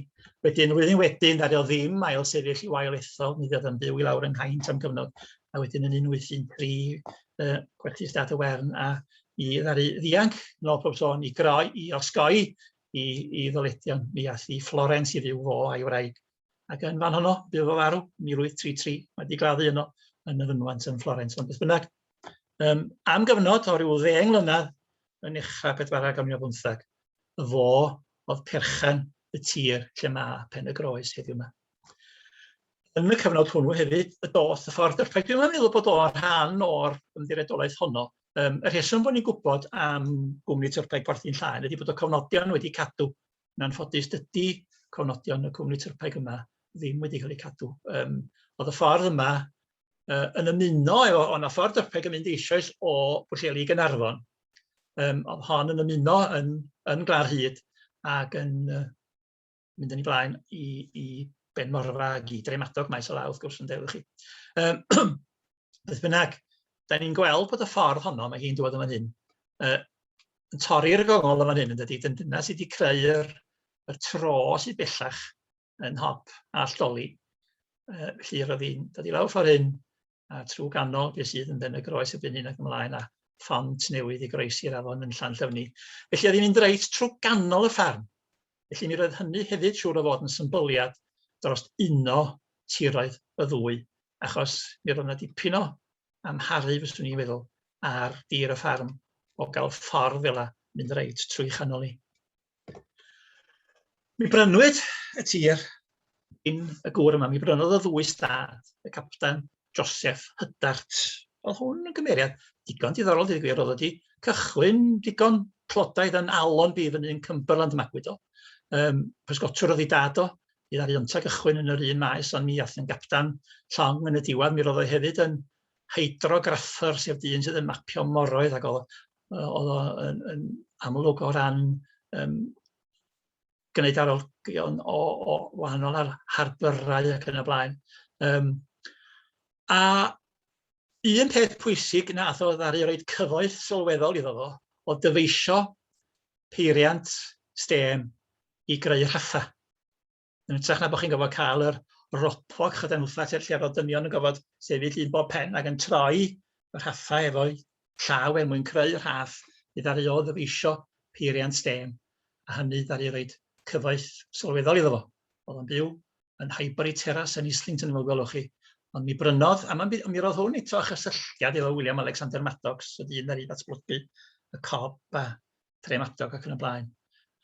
Wedyn, flwyddyn wedyn, ddaru o ddim ail sefyll i wael ethol, mi ddiodd yn byw i lawr yng Nghaint am gyfnod, a wedyn yn 1813 uh, gwerthu stad y Wern a i ddaru ddianc nôl pob sôn i groi, i osgoi i, i ddyledion. Mi ath i Florence i fyw fo a'i wraig Ac yn fan honno, bydd o farw, 1833, mae wedi gladdu yno yn y fynwant yn Florence. Ond beth bynnag, um, am gyfnod o ryw ddeng mlynedd yn uchaf pedwarau ganrif ar bymtheg, fo oedd perchen y tir lle mae pen y groes heddiw yma. Yn y cyfnod hwnnw hefyd, y doth y ffordd dyrpaid. Dwi'n meddwl bod o'n rhan o'r ymddiredolaeth honno. Um, y rheswm bod ni'n gwybod am gwmni tyrpaid Porthi'n Llaen ydy bod y cofnodion wedi cadw Yn anffodus, dydy cofnodion y cwmni tyrpaig yma ddim wedi cael eu cadw. Um, oedd y ffordd yma uh, yn ymuno efo, ond y ffordd tyrpaig yn mynd eisoes o Bwlleli i Gynarfon. Um, oedd hon yn ymuno yn, yn Glar Hyd ac yn uh, mynd yn ei blaen i, i Ben Morfa ac i Dremadog maes o law, wrth gwrs, yn deulu chi. Um, Beth bynnag, da ni'n gweld bod y ffordd honno, mae hi'n dod yn fan hyn, uh, yn torri'r gongol yn fan hyn, yn dydy, dyna sydd wedi creu'r y tro sydd bellach yn hop a alltoli. Uh, felly roedd hi'n dod i lawr ffordd hyn, a trwy ganol beth sydd yn ben y groes y byn hyn ac ymlaen, a ffont newydd i groesi'r afon yn llan llyfni. Felly oedd hi'n mynd reit trwy ganol y ffarm. Felly mi roedd hynny hefyd siŵr o fod yn symbyliad dros uno tiroedd y ddwy achos mi roedd 'na dipyn o amharu, fyswn i'n feddwl, ar dir y ffarm o gael ffordd fel 'a mynd reit trwy chanol 'i. Mi brynwyd y tir gin y gŵr yma, mi brynodd o ddwy stad, y Capten Joseph Hydart. Oedd hwn yn gymeriad digon diddorol, dweud y gwir, oedd wedi cychwyn digon clodaidd yn Alon Bif yn un Cumberland Magwyd o. Um, pysgotwr oedd ei dad o, Bydd ar Iontag ychwyn yn yr un maes ond mi aeth yn gapdan llong yn y diwedd. Mi roedd o hefyd yn hydrograffer sef dyn sydd yn mapio moroedd ac oedd oedd o yn, yn amlwg o ran um, gwneud arolygion o, o wahanol ar harbyrau ac yn y blaen. Um, a un peth pwysig na oedd o ddaru roed cyfoeth sylweddol iddo fo o dyfeisio peiriant stêm i greu rhatha. Yn ytrach na bod chi'n gofod cael yr ropog chyda'n wtha lle lle fod dynion yn gofod sefyll un bob pen ac yn troi y rhatha efo'i llaw er mwyn creu rhath i ddaru o ddyfeisio peiriant stêm a hynny ddaru roed cyfoeth sylweddol iddo fo. Oedd o'n byw yn Highbury Terrace yn Islington fel gwelwch chi. Ond mi brynodd, a mi, mi roedd hwn eto chysylltiad efo William Alexander Maddox, y dyn ar ei ddatblygu, y cob a tre Maddox ac yn y blaen.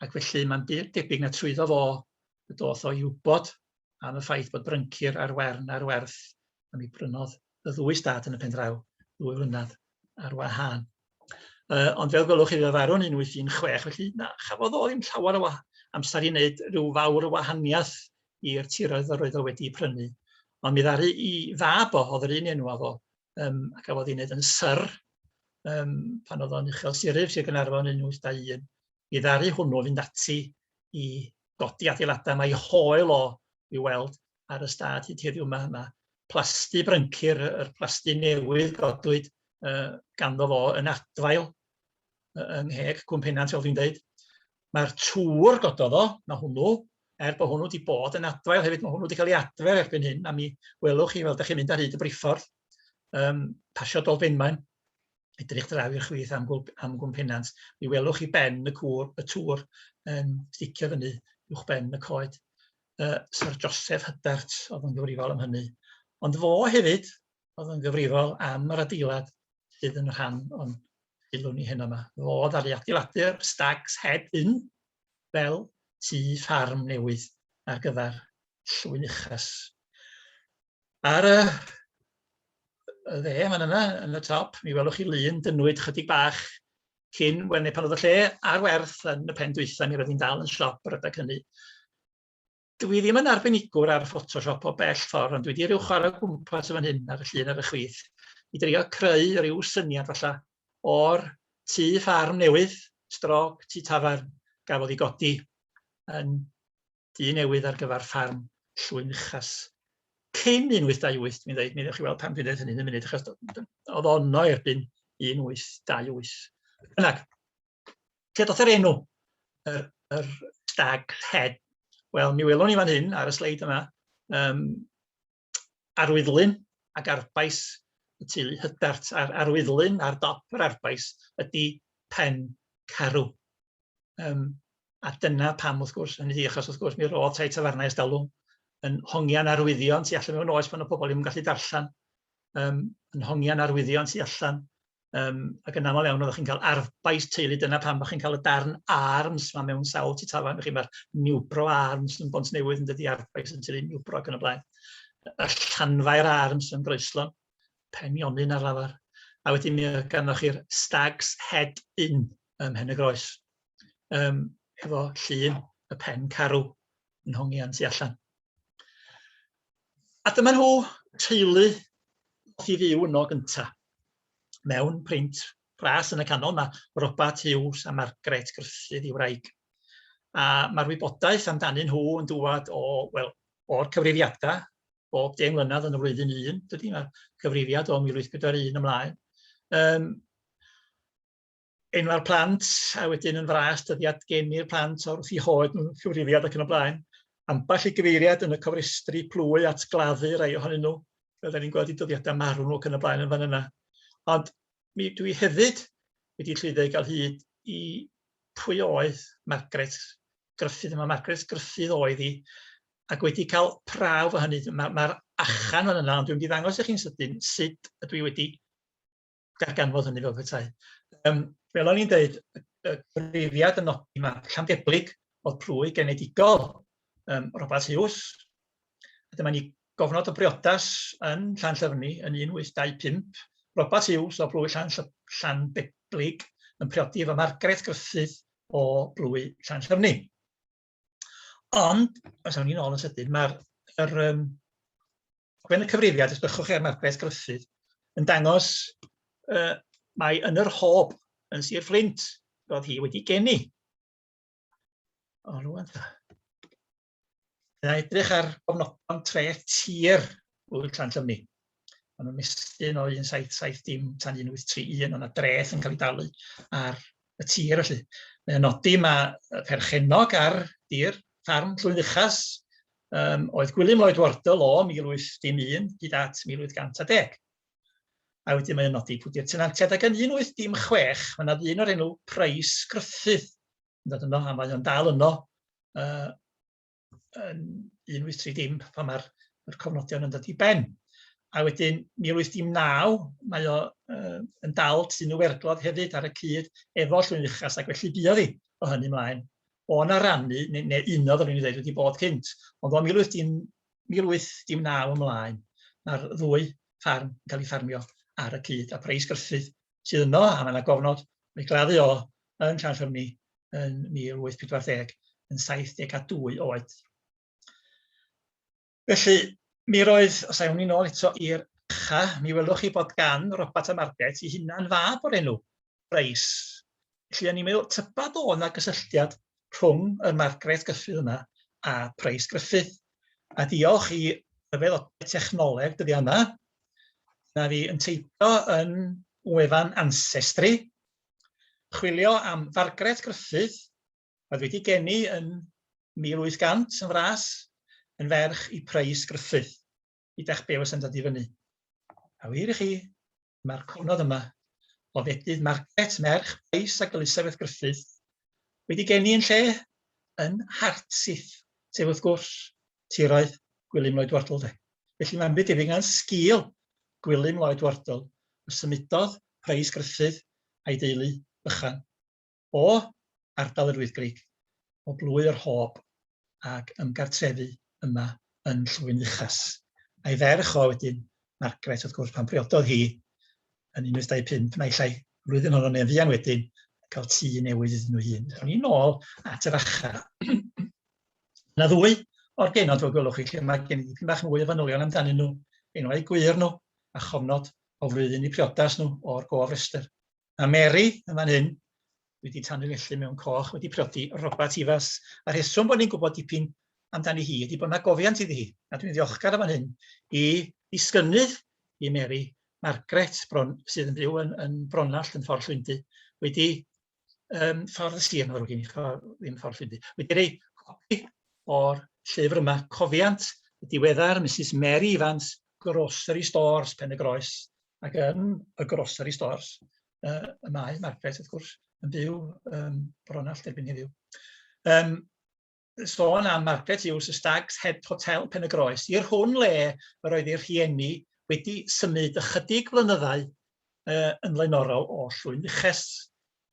Ac felly mae'n debyg na trwyddo fo y doth o'i wybod am y ffaith bod bryncir ar wern ar werth a mi brynodd y ddwy stad yn y pen draw ddwy flynedd ar wahân. Uh, ond fel gwelwch chi fe farw'n 1816, felly na, chafodd o ddim llawer o amser i wneud rhyw fawr o wahaniaeth i'r tiroedd yr oedd o wedi prynu. Ond mi ddaru i fab o, oedd yr un enw o, um, a gafodd ei wneud yn syr um, pan oedd o'n uchel siryf sy'n Gynarfon yn 1821. i ddaru hwnnw fynd ati i godi adeiladau. Mae ei hoel o i weld ar y stad hyd heddiw yma. Mae plasty bryncir, yr plasty newydd godwyd uh, ganddo fo yn adfail yng ngheg Cwm Penant, fel dwi'n dweud. Mae'r tŵr gododd o, mae hwnnw, er bod hwnnw wedi bod yn adfail hefyd, mae hwnnw wedi cael ei adfer erbyn hyn, a mi welwch chi, fel ydych chi'n mynd ar hyd y briffordd, um, pasio Dolfenmaen, edrych draw i'r chwith am gwmp, am gwmp penant, mi welwch chi ben y cwr, y tŵr yn sticio fyny uwch ben y coed. Uh, Sir Joseph Hydart oedd yn gyfrifol am hynny. Ond fo hefyd oedd yn gyfrifol am yr adeilad sydd yn rhan o'n sylw ni heno yma. Fo ddaru adeiladu'r Stags Head Inn fel tu ffarm newydd ar gyfer llwyn uchas. Ar y y dde yn fan yna, yn y top, mi welwch chi lun dynnwyd chydig bach cyn we- neu pan oedd y lle ar werth yn y pen dwytha, mi roedd hi'n dal yn siop yr adeg hynny. Dwi ddim yn arbenigwr ar Photoshop o bell ffordd, ond dwi 'di ryw chwarae o gwmpas yn fan hyn ar y llun ar y chwith, i drio creu ryw syniad falla o'r tŷ ffarm newydd, strog tŷ tafarn, gafodd ei godi yn dyn newydd ar gyfer ffarm Llwyn Uchas. Cyn 1828, mi ddeud, mi ddewch chi weld pam dwi'n dweud hynny yn y munud, achos oedd ono erbyn 1828. Yna, lle doth yr enw, yr, yr stag head. Wel, mi welwn ni fan hyn ar y sleid yma, um, arwyddlun ac arfbais y teulu Hyddarth, a'r arwyddlun ar dop yr arfbais ydy pen carw. Um, a dyna pam, wrth gwrs, hynny ydy, achos wrth gwrs mi roedd tai tafarnau ystalwm yn hongian arwyddion tu allan mewn oes pan y pobl ddim yn gallu darllen, um, yn hongian arwyddion tu allan Yym, ac yn aml iawn oeddech chi'n cael arfbais teulu, dyna pam bo' chi'n cael y darn arms 'ma mewn sawl tŷ tafarn, felly ma'r niwbro arms yn Bontnewydd yn dydi, arfbais yn Tŷ Niwbro ac yn y blaen. Y Llanfair arms yn Groeslon, pen Ionyn ar lafar. A wedyn mi oedd ganddoch chi'r Stag's Head Inn ym Mhen-y-groes, yym, hefo llun y Pen Carw yn hongian tu allan. A dyma nhw teulu i fyw yno gynta. Mewn print pras yn y canol mae Robert Hughes a Margaret Gruffydd i wraig. A mae'r wybodaeth amdanyn nhw yn dŵad o, wel, o'r cyfrifiadau bob 10 mlynedd yn y flwyddyn un, dydy, mae cyfrifiad o 1841 ymlaen. Um, enwau'r plant, a wedyn yn fras dyddiad geni'r plant o'r wrth i hoed nhw, cyfrifiad ac yn y blaen. Ambell i gyfeiriad yn y cofrestru plwy at gladdu rai ohonyn nhw, fel da ni'n gweld i dyddiadau marw nhw ac yn y blaen yn fan yna. Ond mi dwi hefyd wedi llwyddo i gael hyd i pwy oedd Margaret Gruffydd, mae Margaret Gruffydd oedd hi, ac wedi cael prawf o hynny. Mae'r ma achan fan yna, ond dwi'n mynd i ddangos i chi'n sydyn sut ydw i wedi darganfod hynny fel petai. Um, fel o'n i'n dweud, y cyfrifiad yn nodi mae Llandeblig oedd plwy genedigol um, Robert Hughes. A dyma ni gofnod o briodas yn Llan Llyfni yn 1825. Robert Hughes o blwy Llan, Llandeblig yn priodi efo Margaret Griffith o blwy Llan Llyfni. Ond, os awn ni'n ôl yn sydyn, mae'r yr, um, gwen y cyfrifiad, os bychwch chi ar Marcbeth Gruffydd, yn dangos uh, mae yn yr hob yn Sir Fflint, roedd hi wedi geni. O, rwan ta. Yna edrych ar gofnodon tre tir Wyl Llan Llymni. Mae'n nhw'n mestyn o 1770 tan 1831, ond y dreth yn cael ei dalu ar y tir felly. Mae'n nodi mae perchennog ar dir ffarm Llwyn Uchas um, oedd Gwilym Lloyd Wardle o 1801 hyd at 1810. A wedyn mae'n nodi pwdi'r tenantiad ac yn 1816 mae yna ddyn o'r enw Price Gruffydd yn dod yno a mae o'n dal yno uh, yn 1830 pan mae'r yr cofnodion yn dod i ben. A wedyn 1819 mae o uh, yn dal tun o werglod hefyd ar y cyd efo llwyn uchas ac felly buodd hi o hynny mlaen. O na rannu, neu, neu uno fel o'n i'n dweud wedi bod cynt, ond o 1819 ymlaen mae'r ddwy ffarm yn cael ei ffarmio ar y cyd a Preis Gruffudd sydd yno a mae yna gofnod o'i gladdu o yn Llanllymni yn 1840 yn 72 oed. Felly, mi roedd, os awn ni'n ôl eto i'r cha, mi welwch chi bod gan Robert a Margaret i hunan fab o'r enw, Reis. Felly, o'n i'n meddwl, tyba do yna gysylltiad rhwng y Margaret Gyffydd yma a Price Griffith. A diolch i ryfedd o technoleg dyddi yma, na fi yn teithio yn wefan Ancestry, chwilio am Fargret Gruffydd, oedd wedi geni yn 1800 yn fras, yn ferch i Prys Gruffydd. Ydach be' was yn dod i fyny. A wir i chi, mae'r cofnod yma o fedydd Margaret, merch Prys ac Elisabeth Gruffydd, wedi geni yn lle yn Hartsith, sef wrth gwrs tiraeth Gwilym Lloyd Wardle de. Felly mae'n byd debyg na'n sgil Gwilym Lloyd Wardle y symudodd Preis Gruffydd a'i deulu bychan o ardal yr Wyddgrug, o Blwy yr Hob ag ymgartrefu yma yn Llwyn Uchas. A'i ferch o wedyn, Margaret wrth gwrs, pan briododd hi yn 1825 naill ai flwyddyn honno neu'n fuan wedyn, cael tŷ newydd iddyn nhw hun. O'n i'n ôl at yr acha. Yna ddwy o'r genod fel gwelwch chi lle mae gen i dipyn bach mwy o fanylion amdanyn nhw, enwau gwir nhw a chofnod o flwyddyn i priodas nhw o'r gof rester. Mae Mary yn fan hyn wedi tanlinellu mewn coch wedi priodi Robert Ifas. A rheswm bod ni'n gwybod dipyn amdani hi ydy bod yna gofiant iddi hi. A dwi'n ddiolchgar yn fan hyn i ddisgynnydd i Mary, Margaret, bron, sydd yn byw yn, yn Bronallt yn ffordd Llwyndy, wedi um, ffordd y sir, mae'n ddrwg gen i, ddim ffordd llwybr. Wedi rei copi o'r llyfr yma, cofiant y diweddar Mrs Mary Evans, Grocery Stores, Pen y Groes, ac yn y Grocery Stores, uh, y mae Margaret, wrth gwrs, yn byw um, bron all derbyn heddiw. Um, sôn am Margaret Hughes, y Stags Head Hotel, Pen-y-groes, i'r hwn le yr oedd ei rhieni wedi symud ychydig flynyddau uh, yn flaenorol o Llwynfuches,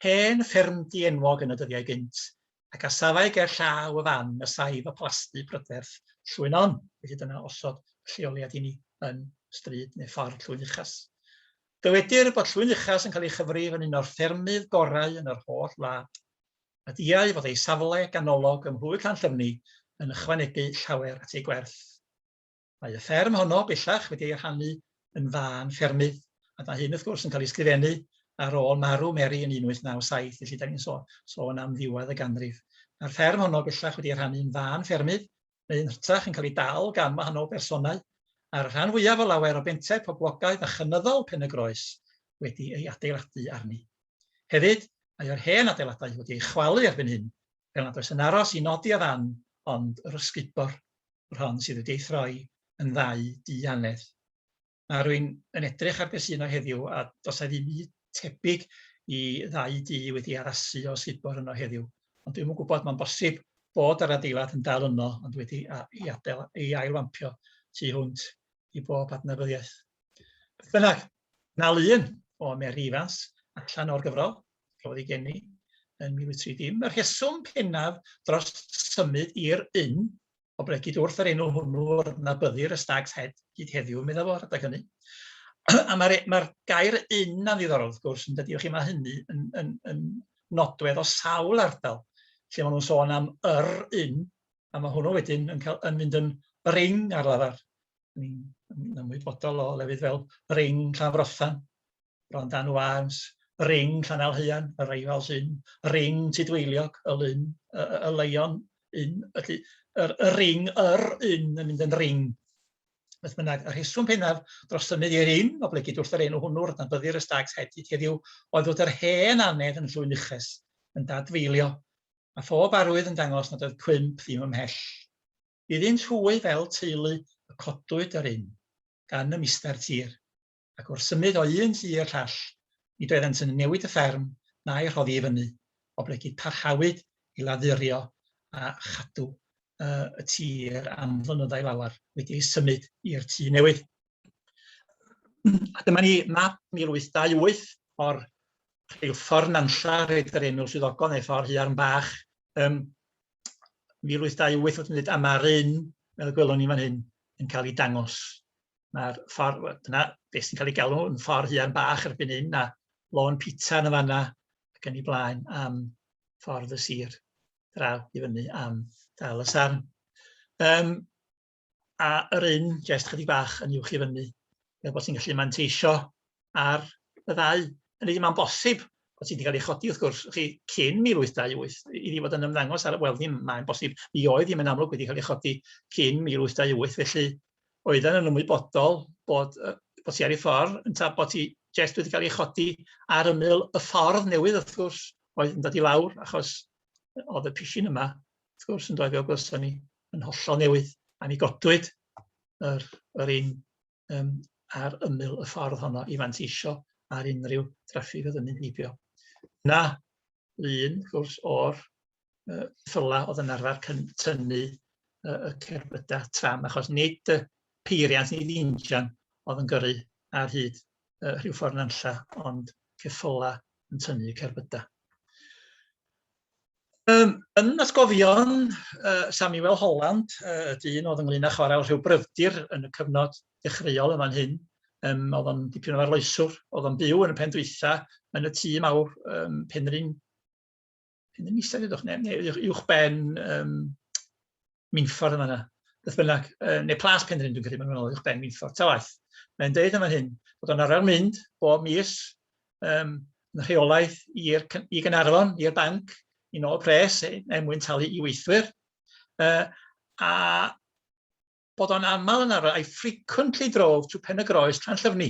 hen fferm dienwog yn y dyddiau gynt, ac a safai ger llaw y fan y saif y plasty bryderth Llwynon, felly dyna osod y lleoliad i ni yn stryd neu ffordd Llwynfuches. Dywedir bod Llwynfuches yn cael ei chyfrif yn un o'r ffermydd gorau yn yr holl wlad. a diau fod ei safle ganolog ym Mhlwy Llanllyfni yn ychwanegu llawer at ei gwerth. Mae y fferm honno bellach wedi ei rhannu yn fân ffermydd, a mae hyn wrth gwrs yn cael ei sgrifennu ar ôl marw Mary yn 1897, felly 'dan ni'n sôn am ddiwedd y ganrif. Mae'r fferm honno bellach wedi ei rhannu yn fân ffermydd, neu yn hytrach yn cael ei dal gan wahanol bersonau, a'r rhan fwyaf o lawer o bentau poblogaidd a chynyddol Pen-y-groes wedi ei adeiladu arni. Hefyd, mae yr hen adeiladau wedi ei chwalu erbyn hyn, fel nad oes yn aros i nodi a ddan ond yr ysgubor, yr hon sydd wedi ei throi yn ddau du annedd. A rwy'n yn edrych ar be sy' yno heddiw, a does 'na ddim byd tebyg i ddau dŷ wedi addasu o sut bo' rhwnnw heddiw. Ond dwi'm yn gwybod, mae'n bosib bod yr adeilad yn dal yno, ond wedi a- ei adael, ei ail-wampio tu hwnt i bob adnabyddiaeth. Beth bynnag, 'na lun o Mary Ifans allan o'r gyfrol, roedd ei geni yn 1930. Y rheswm pennaf dros symud i'r Ynn o bregyd wrth yr enw hwnnw o'r nabyddir y Stag's Head hyd heddiw, meddai fo, rhedeg hynny. a mae'r e, ma gair un na ddiddorol, wrth gwrs, yn dydi, chi, mae hynny yn, yn, yn nodwedd o sawl ardal, lle maen nhw'n sôn am yr un, a mae hwnnw wedyn yn, cael, yn mynd yn bring ar lafar. Ni'n ymwybodol o lefydd fel bring Llafrothan, Ronddan Wâns, y Ring, Llanalhaean, y Rifals Inn, y Ring, Tudweiliog, y Lyn, y, y, y Leion Inn, felly yr, y Ring, yr Inn yn mynd yn Ring. Beth bynnag, y rheswm pennaf dros symud i'r Inn, oblegid wrth yr enw hwnnw, rydyn byddir y Stags heb hyd heddiw, oedd fod yr hen anedd yn llwyn uchus, yn dadfeilio, a phob arwydd yn dangos nad oedd cwymp ddim ymhell. Iddynt hwy fel teulu y codwyd yr Inn, gan y Mister Tir. ac wrth symud o un llu i'r llall, nid oeddent yn newid y fferm na'i rhoddi i fyny, oblegid parhawyd i laddurio a chadw y tir am flynyddau lawer, wedi ei symud i'r tŷ newydd. A dyma ni map 1828 o'r rheilffordd Nanlla, rhaid yr enw swyddogon neu ffordd Huarn Bach, um, 1828 oedd yn dweud, a mae'r un, fel y gwelwn ni fan hyn, yn cael ei dangos. Mae'r ffordd... wel, dyna beth sy'n cael ei galw yn ffordd Huan Bach erbyn hyn, a lôn pitsa yn y fan'na ac yn ei blaen am ffordd y sir draw i fyny am Dal y Sarn. Um, a yr un, jyst chydig bach yn uwch i fyny, fel bod ti'n gallu manteisio ar y ddau. Hynny yw, mae'n bosib bod hi wedi cael ei chodi, wrth gwrs, chi, cyn 1828, iddi fod yn ymddangos ar... Wel, ddim mae'n bosib. Mi oedd hi'n mynd amlwg wedi cael ei chodi cyn 1828, felly oedden nhw'n ymwybodol bod, uh, bod hi ar ei ffordd, yn ta bod hi jest wedi cael ei chodi ar ymyl y ffordd newydd, wrth gwrs, oedd yn dod i lawr, achos oedd y pishin yma, wrth gwrs, yn dod i ogos ni yn hollol newydd, a mi godwyd yr, yr un um, ar ymyl y ffordd honno i fanteisio ar unrhyw draffig oedd yn mynd heibio. Na, lun, wrth gwrs, o'r uh, ffyla oedd yn arfer tynnu uh, y cerbydau tram, achos nid y peiriant, nid injan oedd yn gyrru ar hyd uh, rhyw ffordd nanlla, ond ceffyla yn tynnu cerbydau. Yym yn atgofion uh, Samuel Holland, uh, y dyn oedd ynglyn â chwarae rhyw bryfdir yn y cyfnod dechreuol yma'n hyn, um, oedd o'n dipyn o arloeswr, oedd o'n byw yn y pen dwytha, yn y tŷ mawr um, Penrhyn, Penrhyn Isel, ydwch, neu, neu uwch ben um, Minffordd yn fan'na, beth bynnag, yy neu Plas Penrhyn dwi'n credu maen nhw'n ôl uwch ben Minffordd, ta waeth. Mae'n deud yn fan hyn bod o'n arfer mynd bob mis yym yn rheolaidd i'r cy- i Gaernarfon, i'r banc, i nôl pres e- er mwyn talu i weithwyr, yy a bod o'n aml yn arfer, I frequently drove to Pen-y-groes, Llanllyfni.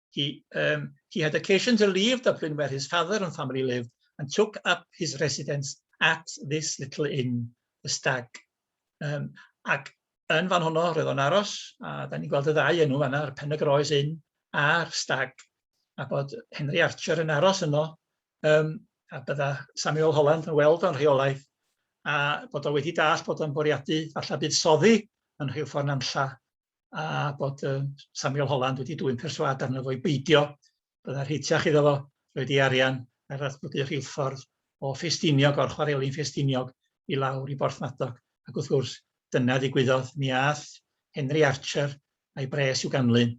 He, um, he had occasion to leave Dublin where his father and family lived and took up his residence at this little inn, the Stag. Um, ac yn fan honno, roedd o'n aros, a da ni'n gweld y ddau enw fanna, yr Pen y Groes Inn a'r Stag, a bod Henry Archer yn aros yno, um, a bydda Samuel Holland yn weld o'n rheolaeth, a bod o wedi dall bod o'n bwriadu, falle bydd soddi yn rhyw ffordd nanlla, a bod uh, Samuel Holland wedi dwy'n perswad arno fo'i beidio, byddai rheitiach iddo fo roed ei arian ar ddatblygu rheilffordd o Ffestiniog, o'r chwarelin Ffestiniog i lawr i Borthmadog. Ac wrth gwrs, dyna ddigwyddodd, mi ath Henry Archer a'i bres i'w ganlyn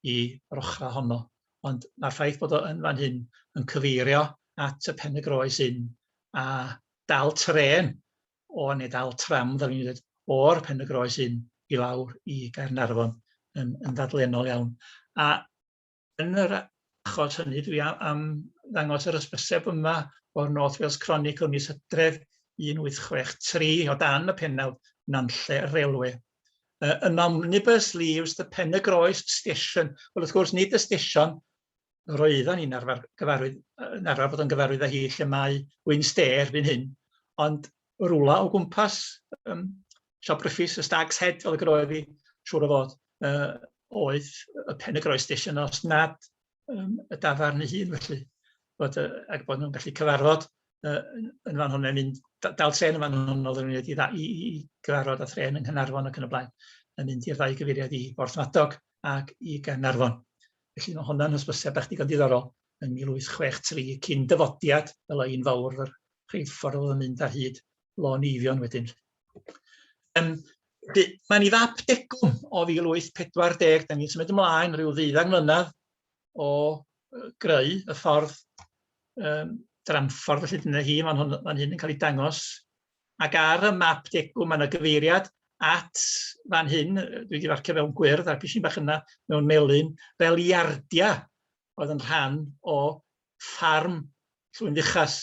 i rochra honno. Ond mae'r ffaith bod o yn fan hyn yn cyfeirio at y pen y groes hyn a dal tren o ne' dal tram fel o'n i'n ddeud o'r Pen-y-groes hyn i lawr i Gaernarfon yn yn ddadlennol iawn a yn yr achos hynny dwi a- am ddangos yr ysbyseb yma o'r North Wales Chronicle mis Hydref 1863 o dan y pennawd Nantlle Railway uh, an omnibus leaves the Pen-y-groes station wel wrth gwrs nid y stesion yr oeddan ni'n arfer gyfarwydd yy yn arfer bod yn gyfarwydd â hi lle mae Wyn Stay erbyn hyn ond rwla o gwmpas yym siop Gruffy's y Stag's Head fel y groeodd hi siŵr o fod yy oedd y pen y groes station os nad yym y dafarn ei hun felly bod yy ac bod nhw'n gallu cyfarfod yy yn yn fan hwn mae'n mynd d- dal trên yn fan hwn oeddwn i'n mynd i dda- i i i gyfarfod â thrên yng Nghanarfon ac yn y blaen yn mynd i'r ddau gyfeiriad i Borthmadog ac i Gaernarfon. Felly mae honna'n hysbysiad bach digon diddorol. Yn 1863, cyn dyfodiad, fel o un fawr yr rheilffordd oedd yn mynd ar hyd Lôn Eifion wedyn. Um, mae'n ei fab degwm o 1840, da ni'n symud ymlaen rhyw ddeuddag mlynedd o greu y ffordd um, dramffordd, felly dyna hi, mae'n hyn yn cael ei dangos Ac ar y map degwm mae 'na gyfeiriad at fan hyn, dwi wedi farcio fewn gwyrdd a'r pishyn bach yna mewn melyn, fel iardia oedd yn rhan o ffarm Llwyn Fuchas.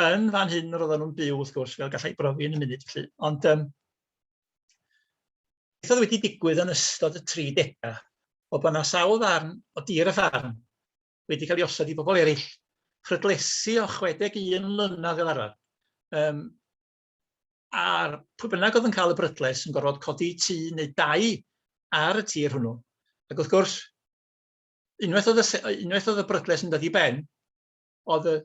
Yn fan hyn roedden nhw'n byw wrth gwrs, fel gallai brofi yn y munud felly. Ond um, beth oedd wedi digwydd yn ystod y 30au o bod yna sawl ddarn o dir y ffarm wedi cael ei osod i bobl eraill phrydlesu o 61 mlynedd fel arfer. Um, a'r pwy bynnag oedd yn cael y brydles yn gorfod codi tŷ neu dau ar y tir hwnnw. Ac wrth gwrs, unwaith oedd y, unwaith oedd y brydles yn dod i ben, oedd y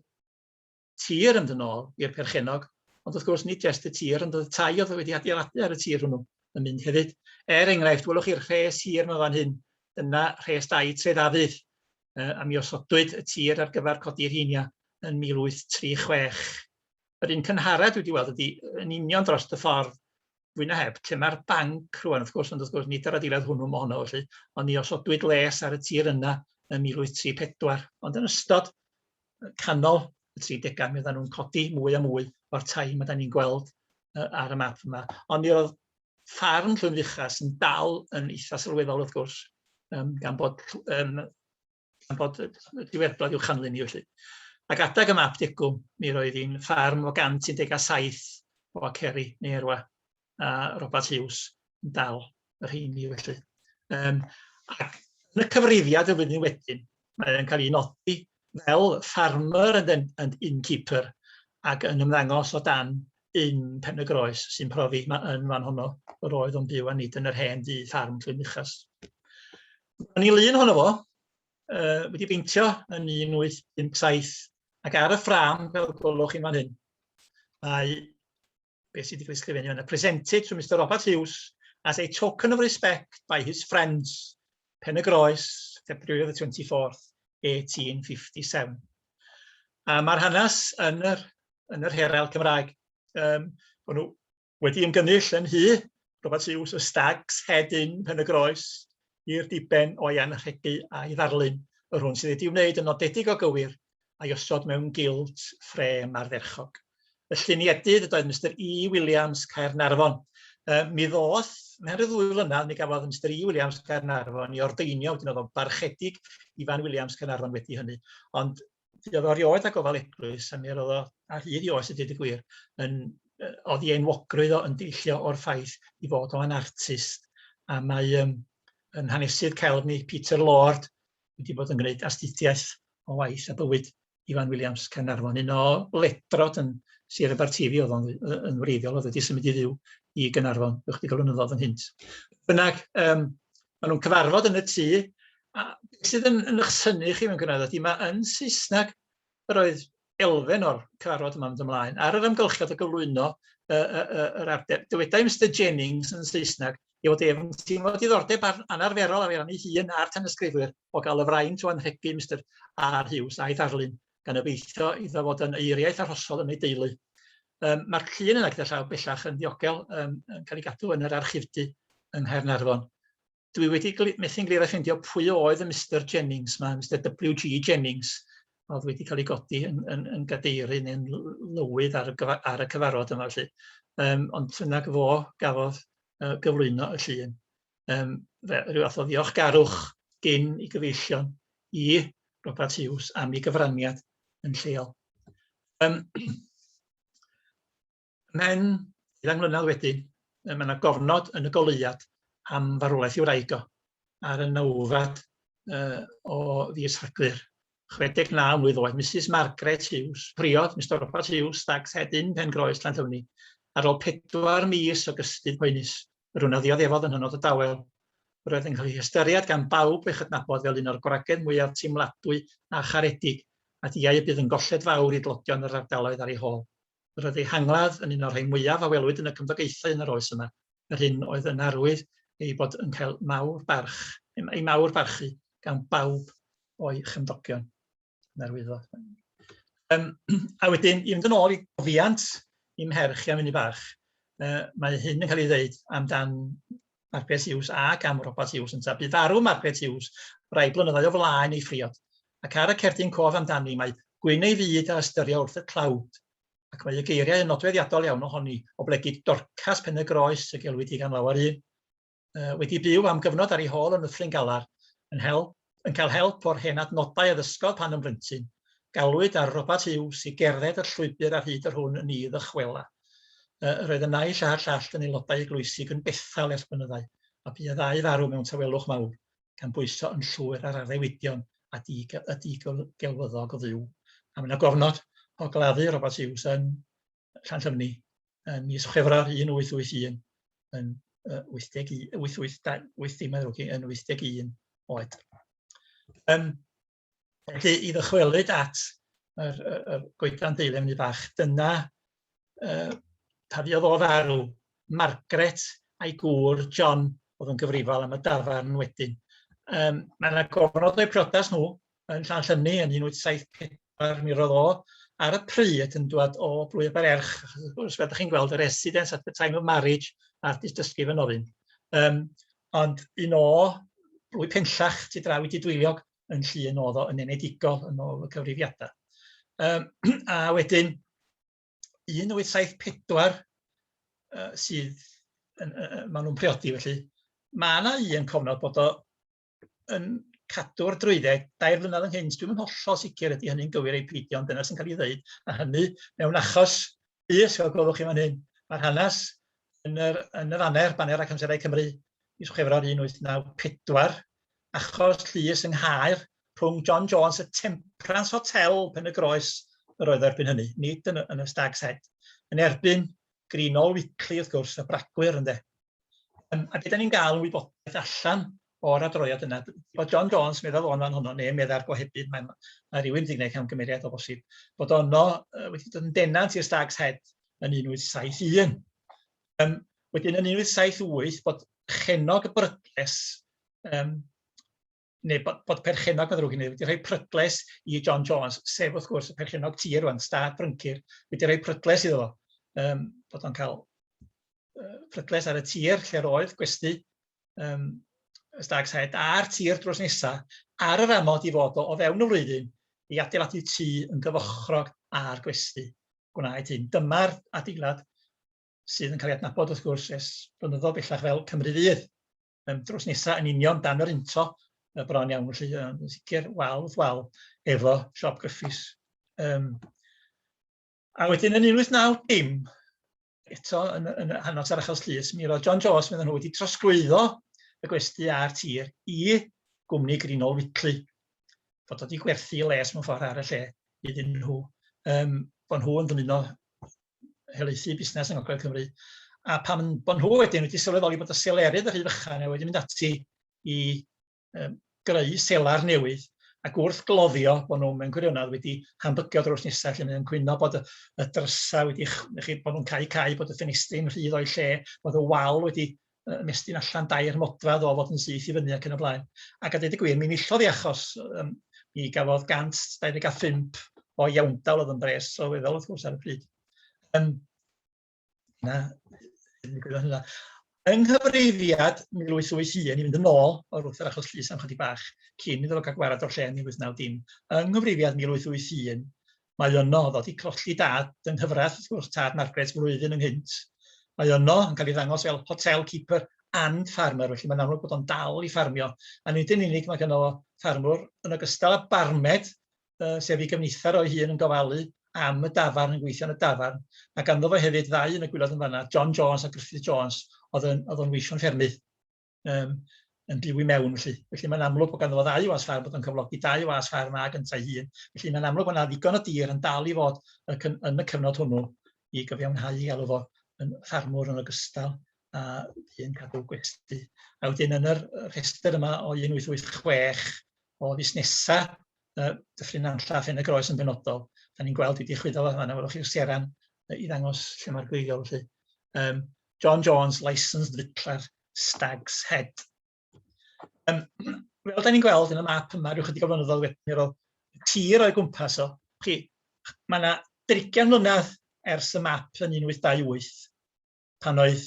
tir yn dod nôl i'r perchennog, ond wrth gwrs nid jyst y tir, ond oedd tai oedd wedi adeiladu ar y tir hwnnw yn mynd hefyd. Er enghraifft, welwch chi'r rhes hir yma fan hyn, dyna rhes dau Tref Afydd, a mi osodwyd y tir ar gyfer codi'r heinia yn 1836. Yr un cynharad dwi wedi weld ydy yn union dros y ffordd fwy na heb, lle mae'r banc rwan, wrth gwrs, ond wrth gwrs, nid yr adeilad hwnnw mae honno, felly, ond ni osodwyd les ar y tir yna yn 1834. Ond yn ystod canol y 30au, mi oedden nhw'n codi mwy a mwy o'r tai mae da ni'n gweld uh, ar y map yma. Ond mi oedd ffarm Llwynfuchas yn dal yn eitha sylweddol, wrth gwrs, um, gan bod um, gan bod diweddglo i'w chanlyn i felly. Ac adag y map degwm, mi roedd hi'n ffarm o 117 o aceri neu erwa, a Robert Hughes yn dal yr rheini felly. Um, ac yn y cyfrifiad y flwyddyn wedyn, mae'n cael ei nodi fel farmer and, and innkeeper ac yn ymddangos o dan yn Pen-y-groes sy'n profi ma' yn fan honno yr oedd o'n byw a nid yn yr hen dŷ ffarm Clynbuchas. Ro'n ni lun honno fo, uh, wedi beintio yn 1857 ac ar y ffram fel gwelwch chi'n fan hyn mae beth sydd wedi cael ei sgrifennu yna, presented to Mr Robert Hughes as a token of respect by his friends Pen y Groes, February the 24th, 1857. A mae'r hanes yn yr yn yr her ail Cymraeg. Um, bod nhw wedi ymgynnull yn hy, Robert Hughes, y Stags, Head In, Pen y Groes, i'r diben o Ian Rhedu a'i ddarlun, yr hwn sydd wedi wneud yn nodedig o gywir a'i osod mewn gilt ffrêm ardderchog. Y lluniedydd ydoedd Mr E. Williams, Caernarfon. E, mi ddoth, mewn rhyw ddwy flynedd, mi gafodd Mr E. Williams, Caernarfon, i ordeinio, wedyn oedd o'n barchedig i Fan Williams, Caernarfon wedi hynny. Ond Fe oedd o rioed â gofal eglwys, a mi roedd o ar hyd i oes y dyd y gwir, yn, oedd i enwogrwydd o yn deillio o'r ffaith i fod o yn artist, a mae um, yn hanesydd celf ni, Peter Lord, wedi bod yn gwneud astudiaeth o waith a bywyd Ifan Williams Caernarfon, un o ledrod yn Sir Aberteifi oedd o'n yn wreiddiol, oedd wedi symud i fyw i Gaernarfon ychydig o flynyddoedd yn hynt. Bynnag, um, Maen nhw'n cyfarfod yn y tŷ, a beth sydd yn yn 'ych synnu chi mewn gwirionedd ydy ma' yn Saesneg yr oedd elfen o'r cyfarfod yma'n mynd ymlaen ar yr amgylchiad o gyflwyno yy yy yy yr ardeb. Dywedai Mister Jennings yn Saesneg ei fod ef yn teimlo diddordeb ar- anarferol ar ei ran ei hun a'r tanysgrifwyr o gael y fraint o anrhegu Mister R Hughes a'i ddarlun gan obeithio iddo fod yn aeariaeth arhosol yn ei deulu. Um, Mae'r llun yna gyda llaw bellach yn ddiogel um, yn cael ei gadw yn yr archifdy yng Nghaernarfon. Dwi wedi methu'n glir a ffeindio pwy oedd y Mr Jennings, mae Mr WG Jennings, oedd wedi cael ei godi yn, yn, yn gadeiri neu'n lywydd ar y, ar y cyfarfod yma felly. Um, ond yna gyfo gafodd uh, gyflwyno y llun. yym fe- ryw fath o ddiolchgarwch gin ei gyfeillion i Robat Huws am ei gyfraniad yn lleol. Yym Mewn ugain mlynedd wedyn, yy ma' 'na gofnod yn y goleuad am farwolaeth ei wraig o ar y nawfed yy o fis Rhagfyr. 69 mlwydd oed, Misus Margaret Huws, priod Mister Robat Huws, Stag's Head Inn, Pen-groes, Llanllwni, ar ôl pedwar mis o gystudd poenus. Yr un a ddioddefodd yn hynod o dawel. Yr oedd yn cael ei hystyried gan bawb ei chydnabod fel un o'r gwragedd mwyaf teimladwy a charedig a diau y bydd yn golled fawr i dlodion yr ardaloedd ar ei hôl. Yr oedd ei hangladd yn un o'r rhai mwyaf a welwyd yn y cymdogaethau yn yr oes yma, yr hyn oedd yn arwydd ei bod yn cael mawr barch, ei mawr barchu gan bawb o'i chymdogion. Na'r wyddfa. Um, a wedyn, i fynd yn ôl i gofiant i'm her chi am unni bach, uh, mae hyn yn cael ei ddeud amdan Margaret Hughes ac am Robert Hughes yntaf. Bu farw Margaret Hughes rai blynyddoedd o flaen ei phriod, ac ar y cerdyn cof amdani mae gwyn ei fyd a ystyrio wrth y tlawd, ac mae y geiriau yn nodweddiadol iawn ohoni, oblegid Dorcas Pen-y-groes y gelwyd hi gan lawer un. uh, wedi byw am gyfnod ar ei hôl yn Nyffryn Galar, yn, help, yn cael help o'r hen adnodau a ddysgodd pan yn blentyn. Galwyd ar Robert Hughes i gerdded y llwybr ar hyd yr hwn yn ei ddychwela. Uh, yr oedd y naill a'r llall yn aelodau eglwysig yn bethau ers bynyddau, a bu y ddau farw mewn tawelwch mawr, gan bwyso yn llwyr ar addewidion a di, y digelwyddog o fyw. A mae'n gofnod o gladdu Robert Hughes yn Llanllyfni ym mis Chwefror 1881 yn 81, 88, 80 mae'n ddrwg yn 81 oed. Um, felly i ddychwelyd at yr, yr, yr goedan deilem ni bach, dyna uh, pa fiodd o farw Margaret a'i gŵr John oedd yn gyfrifol am y dafarn wedyn. Um, mae yna gofnod o'i priodas nhw, yn Llanllynni yn 1874, mi roedd o ar y pryd yn dŵad o Blwydd Banerch, achos wrth gwrs, fel dach chi'n gweld, y residence at the time of marriage a'r dystysgrif yn ofyn. Um, ond un o blwy penllach tu draw i Didwyliog yn llun oedd o yn enedigol yn ôl y cyfrifiadau. Um, a wedyn, 1874 uh, sydd, yn, uh, maen nhw'n priodi felly, mae yna un cofnod bod o yn cadw'r drwydded dair mlynedd ynghynt. Dwi'm yn hollol sicr ydy hynny'n gywir ei peidio, ond dyna sy'n cael ei ddeud. A hynny mewn achos bus, fel gwelwch chi fan hyn, mae'r hanes yn yr, yn y faner, baner ac amserau Cymru, mis Chwefror 1894, achos llys yng Nghaer rhwng John Jones y Temperance Hotel pen y groes yr oedd erbyn hynny, nid yn y, yn y Stag's Head, yn erbyn Greenall Wickley, wrth gwrs, y bragwyr, ynddo. Yym, a be' 'dan ni'n ga'l wybodaeth allan o'r adroddiad yna, d- bod John Jones, medda fo'n fan hwnnw, neu medda'r gohebydd, mae 'na ma' rywun 'di gneud camgymeriad o bosib, bod ono yy wedi dod yn denant i'r Stag's Head yn 1871. Yym, wedyn yn 1878 bod Chenog y Brydles, yym, neu bod, bod perchennog yn ddrwg i ni, wedi rhoi prydles i John Jones, sef wrth gwrs y perchennog tir rwan, stad Bryncir, wedi rhoi prydles iddo fo, um, bod o'n cael uh, prydles ar y tir lle'r oedd gwesti um, y stag saed a'r tir drws nesaf ar yr amod i fod o, o fewn y flwyddyn i adeiladu tu yn gyfochrog a'r gwesti. Gwnaed hyn. Dyma'r adeilad sydd yn cael ei adnabod wrth gwrs es blynyddoedd bellach fel Cymru Fydd. um, drws nesaf yn union dan yr unto y bron iawn, felly um, yn sicr wal wrth wal efo siop gyffus. Um, a wedyn yn 1890, eto yn, yn hanos ar achos llys, mi roedd John Jones, meddwl nhw, wedi trosglwyddo y gwesti a'r tir i gwmni Grinol Whitley, fod wedi gwerthu les mewn ffordd ar y lle iddyn nhw, um, bod nhw yn dymuno helaethu busnes yng Ngogledd Cymru, a pan bod nhw wedyn wedi sylweddoli bod y selerydd yn rhy fychan, a wedi mynd ati i um, greu selar newydd, ac wrth gloddio bod nhw mewn gwirionedd wedi hambygio drws nesaf, lle mae'n cwyno bod y, y drysau wedi, chi, bod nhw'n cael cael, bod y ffenestri'n rhydd o'i lle, bod y wal wedi ymestyn allan dair modfedd o fod yn syth i fyny ac yn y blaen. Ac a dweud y gwir, mi nillodd ei achos. Um, mi gafodd 125 o iawndal oedd yn bres sylweddol wrth gwrs ar y pryd. Um, na, hynna. Yng nghyfrifiad 1881, i fynd yn ôl o'r wrth yr achos llys am chydig bach, cyn iddo fo cael gwarad o'r lle yn 1990, yng nghyfrifiad 1881, mae yno, oedd o 'di colli dad yng nghyfraith wrth gwrs, tad Margaret flwyddyn ynghynt. Mae yno yn cael ei ddangos fel hotel keeper and farmer, felly mae'n amlwg bod o'n dal i ffarmio. A nid yn unig mae gynno fo ffarmwr, yn ogystal â barmed, uh, sef ei gyfnither o'i hun yn gofalu am y dafarn, yn gweithio yn y dafarn. Mae ganddo fo hefyd ddau yn y gwylod yn fanna, John Jones a Griffith Jones, oedd o'n weithio'n ffermydd. um, yn byw i mewn. Felly, felly mae'n amlwg bod ganddo fo ddau was ffair bod yn cyflogi dau was ffair yma gyntaf hun. Felly mae'n amlwg bod yna ddigon o dir yn dal i fod yn y cyfnod hwnnw i gyfiawnhau i alw fo yn ffarmwr yn ogystal a dyn cadw gwesti. A wedyn yn yr rhestr yma o 1886 o fusnesau uh, Dyffryn Nantlla a Phen y Groes yn benodol, da ni'n gweld wedi chwyddo fo yma, welwch chi'r seran i ddangos lle mae'r gweigol. Felly. Um, John Jones, Licensed Victualler, Stag's Head. Um, fel da ni'n gweld yn y map yma, rhywch ychydig o flynyddoedd wedyn, mi roedd tir o'i gwmpas o. Chi, mae yna drigian mlynedd ers y map yn 1828, pan oedd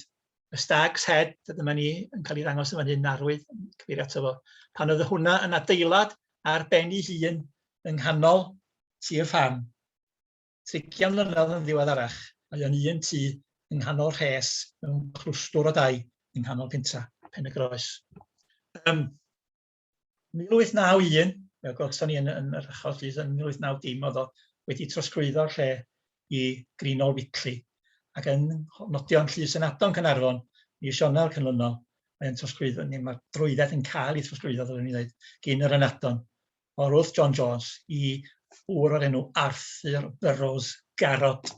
y Stag's Head, a dyma ni yn cael ei ddangos yn fan hyn arwydd, cyfeirio ato fo, pan oedd hwnna yn adeilad ar ben ei hun yng nghanol tir ffarm. Trigian mlynedd yn ddiweddarach, mae o'n un tŷ yng nghanol rhes mewn clwstwr o dai yng nghanol pentra Pen-y-groes. Ym 1891, fel gwelson ni yn, yn yr achos llys, yn 1890 oedd o wedi trosglwyddo'r lle i Greenol Witley, ac yn nodio'n llys yn Adon Cynarfon, mis Ionawr cynlynol, mae'n trosglwyddo, neu mae'r drwydded yn cael ei trosglwyddo, ddylwn i ddweud, gyn yr ynadon o Ruth John Jones i ŵr o'r enw Arthur Burrows Garrod.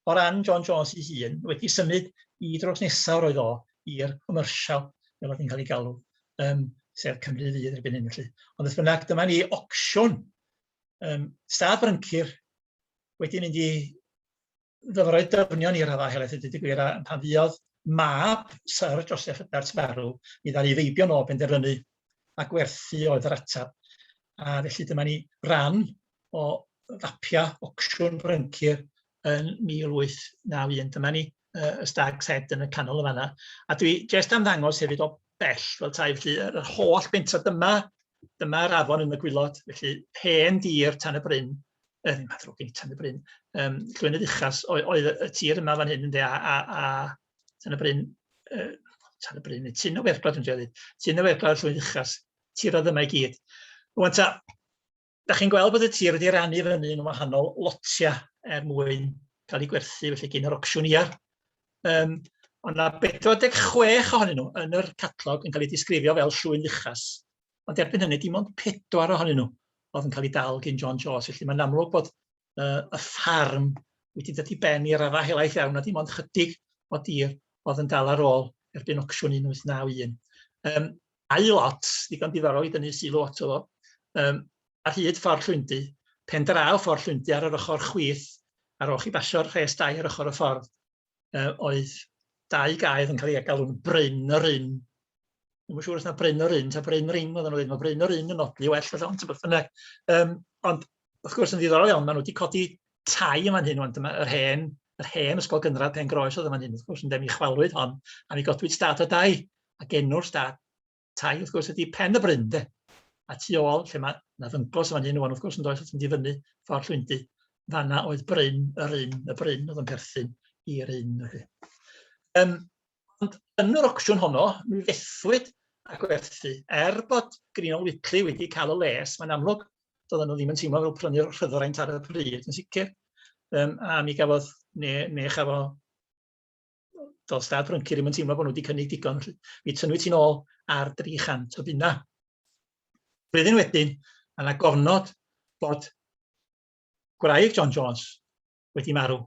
O ran John Jones ei hun, wedi symud i drws nesaf roedd o i'r commercial, fel oedd hi'n cael ei galw, um, sef Cymru Fydd erbyn hyn felly. Ond beth bynnag, dyma ni ocsiwn um, stad Bryncir wedi mynd i ddyfrau dyfnion i raddau helaeth i ddeud gwir, a pan fuodd mab Syr Joseph Edwards farw, mi ddaru feibion o benderfynu a gwerthu oedd yr atab. A felly dyma ni ran o fapia ocsiwn Bryncir yn 1891. Dyma ni uh, y Stag Sed yn y canol y fanna. A dwi jest am ddangos hefyd o bell fel tai, felly yr holl bentra dyma Dyma'r afon yn y gwylod, felly hen dir Tan y Bryn, yy, ddim adrwg i Tan y Bryn, um, Llwynydd Uchas oedd, oedd y tir yma fan hyn, ynddi, a, a, a Tan y Bryn, uh, Tan y Bryn, tyn o werglod yn dweud, tyn o werglod Llwynydd Uchas, tir oedd yma i gyd. Rwan ta, da chi'n gweld bod y tir wedi rannu fyny yn wahanol lotiau er mwyn cael ei gwerthu, felly gyn yr ocsiwn iar, Yym, ond mae 46 ohonyn nhw yn yr catalog yn cael eu disgrifio fel llwy'n uchas. Ond erbyn hynny, dim ond pedwar ohonyn nhw oedd yn cael eu dal gyn John Jones. Felly mae'n amlwg bod uh, y ffarm wedi dod i ben i raddau helaeth iawn a dim ond chydig o dir oedd yn dal ar ôl erbyn ocsiwn 1891. Um, a i lot, ddigon diddorol i dynnu sylw ato fo, um, ar hyd Ffordd Llwyndy, pen draw Ffordd Llwyndy ar yr ochr chwith, ar ôl chi basio'r rhes dai ar ochr y ffordd, uh, oedd dau gaedd yn cael ei galw'n Bryn yr Ynn. Ddim yn siŵr os na Bryn yr Ynn, ta Bryn yr Ing, oedd nhw'n dweud, mae Bryn yr Ynn yn odli well, felly, ond beth bynnag. Um, ond, wrth gwrs, yn ddiddorol iawn, maen nhw wedi codi tai yma'n hyn, ond yr hen, yr hen ysgol gynradd pen groes oedd yma'n hyn, wrth gwrs, yn dem i chwalwyd hon, a mi godwyd stad o dai, a genwr stad tai wrth gwrs ydi Pen y Bryn de. A tu ôl lle mae na ddyngos fan hyn o'n wrth gwrs yn does wrth mynd i fyny ffordd llwyndi. Fanna oedd Bryn yr un, y Bryn oedd yn perthyn i'r un. Felly. Um, ond yn yr ocsiwn honno, mi fethwyd a gwerthu. Er bod Greenol Whitley wedi cael y les, mae'n amlwg doedden nhw ddim yn teimlo fel prynu'r rhyddoraint ar y pryd yn sicr. Um, a mi gafodd, neu, neu chafo does dad Brynci ddim yn teimlo bod nhw wedi cynnig digon, felly mi tynnwy ti'n ôl ar 300 o bunna. Rydyn wedyn, a na gofnod bod gwraig John Jones wedi marw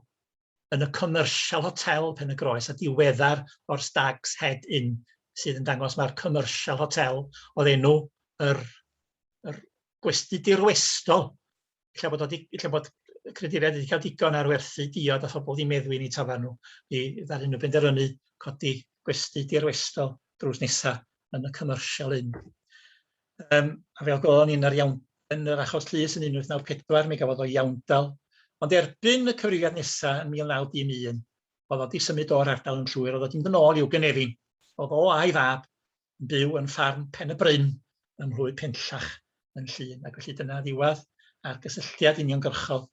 yn y Commercial Hotel Pen y Groes a diweddar o'r Stag's Head Inn sydd yn dangos mae'r Commercial Hotel oedd enw yr, yr gwesti dirwestol ella bod o di- ella bod y creaduriaid wedi cael digon ar werthu diod a phobl wedi meddwi yn eu tafarn nhw, i ddaru nhw benderfynu codi gwesty dirwestol drws nesa yn y Commercial Inn. Um, a fel gofon ni'n yr iawn yn yr achos llys yn 1894, mi gafodd o iawndal, ond erbyn y cyfrifiad nesaf yn 1911, oedd o wedi symud o'r ardal yn llwyr, oedd o wedi mynd yn ôl i'w gynefin. Oedd o a'i fab byw yn ffarm Pen-y-bryn ym Mhlwy Penllach yn Llŷn, ac felly dyna ddiwadd a'r gysylltiad uniongyrchol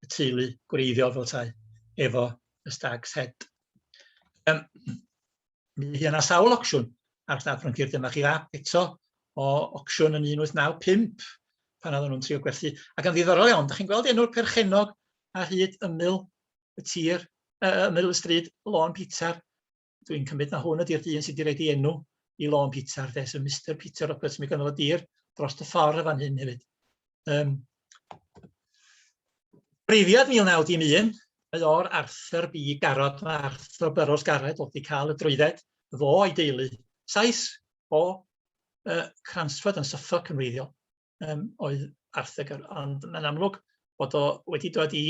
y teulu gwreiddiol fel tai efo y Stag's Head. Um, mi fydd yna sawl ocsiwn ar Stad Froncir, dyma chi fap eto o ocsiwn yn 1895 pan oedden nhw'n trio gwerthu. Ac yn ddiddorol iawn, da chi'n gweld enw'r perchennog ar hyd ymyl y tir, uh, ymyl y stryd Lôn Peter, dwi'n cymryd na hwn ydy'r dyn sydd wedi rhaid ei enw i lôn Peter, de, so Mr Peter Roberts, mi gynnodd y dir dros y ffordd y fan hyn hefyd. Um, Breifiad 1911, mae o'r Arthur B. Garrod, mae Arthur Burroughs Garrett wedi cael y drwydded, fo a'i deulu. Saes o uh, Cransford yn Suffolk yn weithio, um, oedd Arthur Garrod, ond mae'n amlwg bod o wedi dod i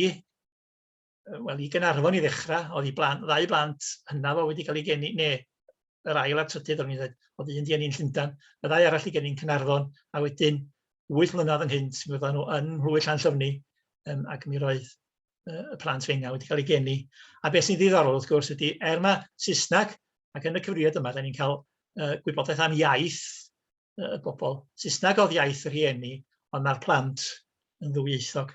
wel, i Gaernarfon i ddechrau, oedd i blant, ddau blant hynaf o wedi cael ei geni, neu yr ail a'r trydydd, o'n i'n dweud, oedd un di eni'n Llundan, y ddau arall i geni'n Cynarfon, a wedyn wyth mlynedd ynghynt, mi oedden nhw yn Mhlwy'r Llan Llyfni, um, ac mi roedd uh, y plant fenga wedi cael ei geni. A beth sy'n ddiddorol, wrth gwrs, ydy, er mae Saesneg, ac yn y cyfrifiad yma, da ni'n cael uh, gwybodaeth am iaith y uh, bobl. Saesneg oedd iaith yr rhieni, ond mae'r plant yn ddwyieithog.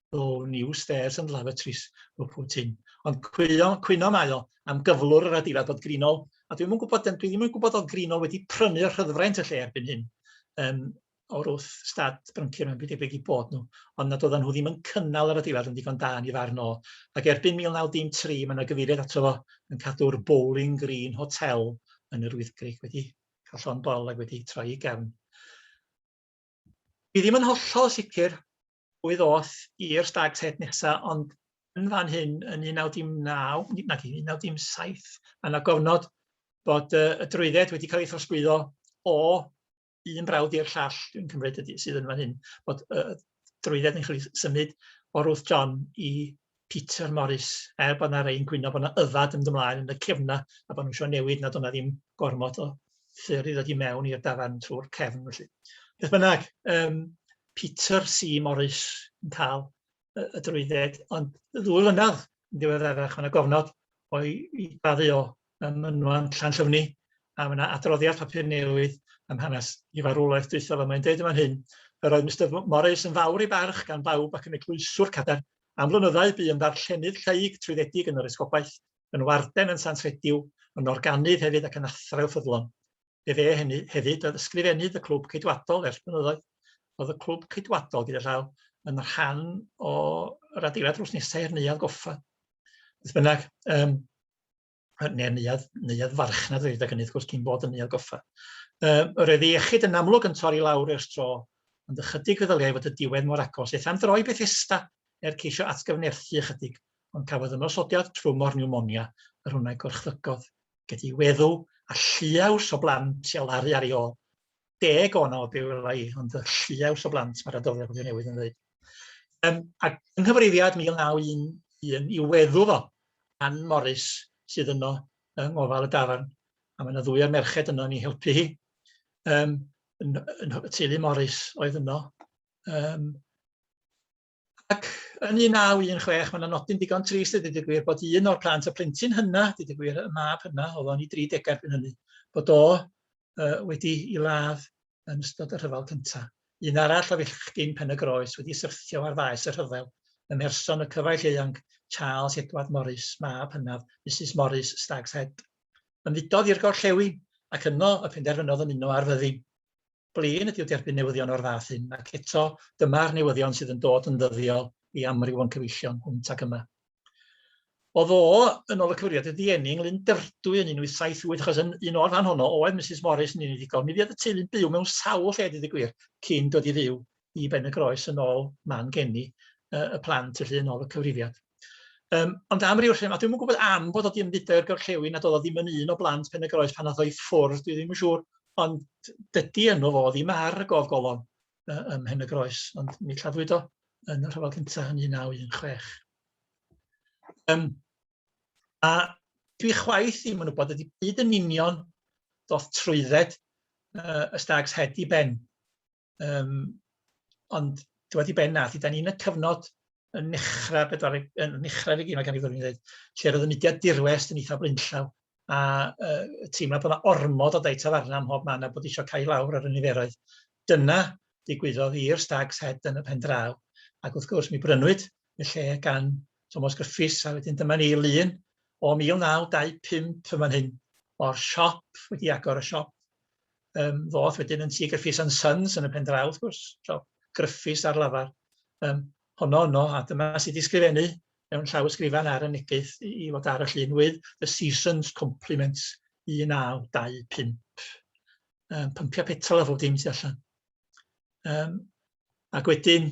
though new stairs and lavatories were put in. Ond cwyno, cwyno mae o am gyflwr yr adeilad bod Grinol, a dwi'n mwyn gwybod, dwi ddim yn gwybod oedd Grinol wedi prynu o'r rhyddfraint y lle erbyn hyn, um, o'r wrth stad bryncir mae'n byd debyg i bod nhw, ond nad oedden nhw ddim yn cynnal yr adeilad yn ddigon da ni farn o. Ac erbyn 1913 mae yna gyfeiriad ato fo yn cadw'r Bowling Green Hotel yn yr Wyddgrug wedi cael llon bol ac wedi troi i gefn. Dwi ddim yn hollol sicr pwy ddoth i'r Stag Set nesa, ond yn fan hyn, yn 1919, nag 1917, a na gofnod bod uh, y drwydded wedi cael ei throsglwyddo o un brawd i'r llall, dwi'n cymryd ydy, sydd yn fan hyn, bod y drwydded yn cael ei symud o Ruth John i Peter Morris, er bod 'na rei'n gwyno bod 'na yfad yn mynd ymlaen yn y cefna a bod nhw isio newid nad o'dd 'na ddim gormod o ffyrdd i ddod i mewn i'r dafarn trw'r cefn felly. Beth bynnag yym Peter C Morris yn ca'l y y drwydded ond ddwy flynadd yn ddiweddarach ma' 'na gofnod o'i 'i baddu o ym mynwant Llanllyfni a ma' 'na adroddiad papur newydd am hanes 'i farwolaeth dwytha fo mae'n deud yn fan hyn yr oedd Mister Morris yn fawr ei barch gan bawb ac yn eglwyswr cadarn Am flynyddau bu yn ddarllenydd lleyg trwyddedig yn yr Esgobaeth, yn warden yn Sant Rhediw, yn organydd hefyd ac yn athrawiwr ffyddlon. Fe fe hynny hefyd oedd Ysgrifennydd y Clwb Ceidwadol ers blynyddoedd. Roedd y Clwb Ceidwadol, gyda llaw, yn rhan o'r adeilad drws nesa i'r Neuadd Goffa. Beth bynnag, yym, neu'r neuadd, neuadd farchnad wedi gyda hynny, wrth gwrs, cyn bod yn neuadd goffa. Um, yr oedd iechyd yn amlwg yn torri lawr i'r stro, ond ychydig feddyliau fod y diwedd mor agos, eith am droi Bethesda er ceisio atgyfnerthu ychydig, ond cafodd ymosodiad trwm o'r pneumonia yr hwnau gorchfygodd, gyda'i weddw a lliaws o blant i alaru ar ei ôl. deg o yno byw elai, ond y lliaws o blant mae'r adroddiad wedi newid yn dweud. Um, ac yng nghyfrifiad 1911 i weddu fo, Ann Morris sydd yno yng ngofal y dafarn, a mae yna ddwy o'r merched yno ni helpu hi. Um, yn, yn, y teulu Morris oedd yno. Um, Ac yn 1916, mae yna nodyn digon trist a dweud y gwir bod un o'r plant, y plentyn hynna, dweud y gwir, y mab hynna, oedd o'n i dri degau erbyn hynny, bod o uh, wedi i ladd yn ystod y rhyfel cyntaf. Un arall o fillchgyn pen y groes wedi syrthio ar faes y rhyfel, ym mherson y cyfaill eang Charles Edward Morris, mab hynaf Mrs Morris Stag's Head. Ymfudodd i'r gorllewin ac yno y penderfynodd ymuno ar fyddin. blin ydyw derbyn newyddion o'r fath hyn, ac eto, dyma'r newyddion sydd yn dod yn ddyddiol i amryw o'n cyfeillion hwnt ac yma. O ddo, yn ôl y cyfrifiad, y ddieni ynglŷn Derdwy yn 1878, achos yn un o'r fan honno oedd Mrs Morris yn unigol. Mi fuodd y teulu'n byw mewn sawl lle, dweud y gwir, cyn dod i fyw i Benygroes yn ôl man geni uh, y plant felly yn ôl y cyfrifiad. Um, ond am ryw rhywun, a dwi'm yn gwybod am bod o di ymfudo i'r gorllewin a doedd o ddim yn un o blant Penygroes pan oedd o i ffwrdd, dwi ddim yn siŵr, ond dydy enw fo ddim ar y gof golofn uh, ym Mhen y Groes, ond mi lladdwyd o yn y rhyfel cyntaf yn 1916. Um, a dwi chwaith ddim yn gwybod ydy byd yn union doth trwydded uh, y stags het i ben. Yym, ond dwad i ben na, ydan ni yn y cyfnod yn nechra pedwaredd yn nechra regi ma' gan i fod yn ddeud, lle roedd y mudiad dirwest yn eitha blaenllaw, a yy teimlo bod 'na ormod o dai tafarna ym mhob man a bod isio cau lawr ar y niferoedd. Dyna ddigwyddodd i'r Stag's Head yn y pen draw, ac wrth gwrs mi brynwyd y lle gan Tomos Griffiths a wedyn dyma ni i lun o 1925 yn fan hyn o'r siop wedi agor y siop Yym, ddoth wedyn yn Tŷ Gruffydd and Sons yn y pen draw, wrth gwrs, so Gruffydd ar lafar. Yym, honno yno, a dyma sut i ysgrifennu mewn llawysgrifan ar y neges i i fod ar y llun with the season's compliments 1925. Yym, pympiau petrol a phob dim tu allan. Yym, ac wedyn,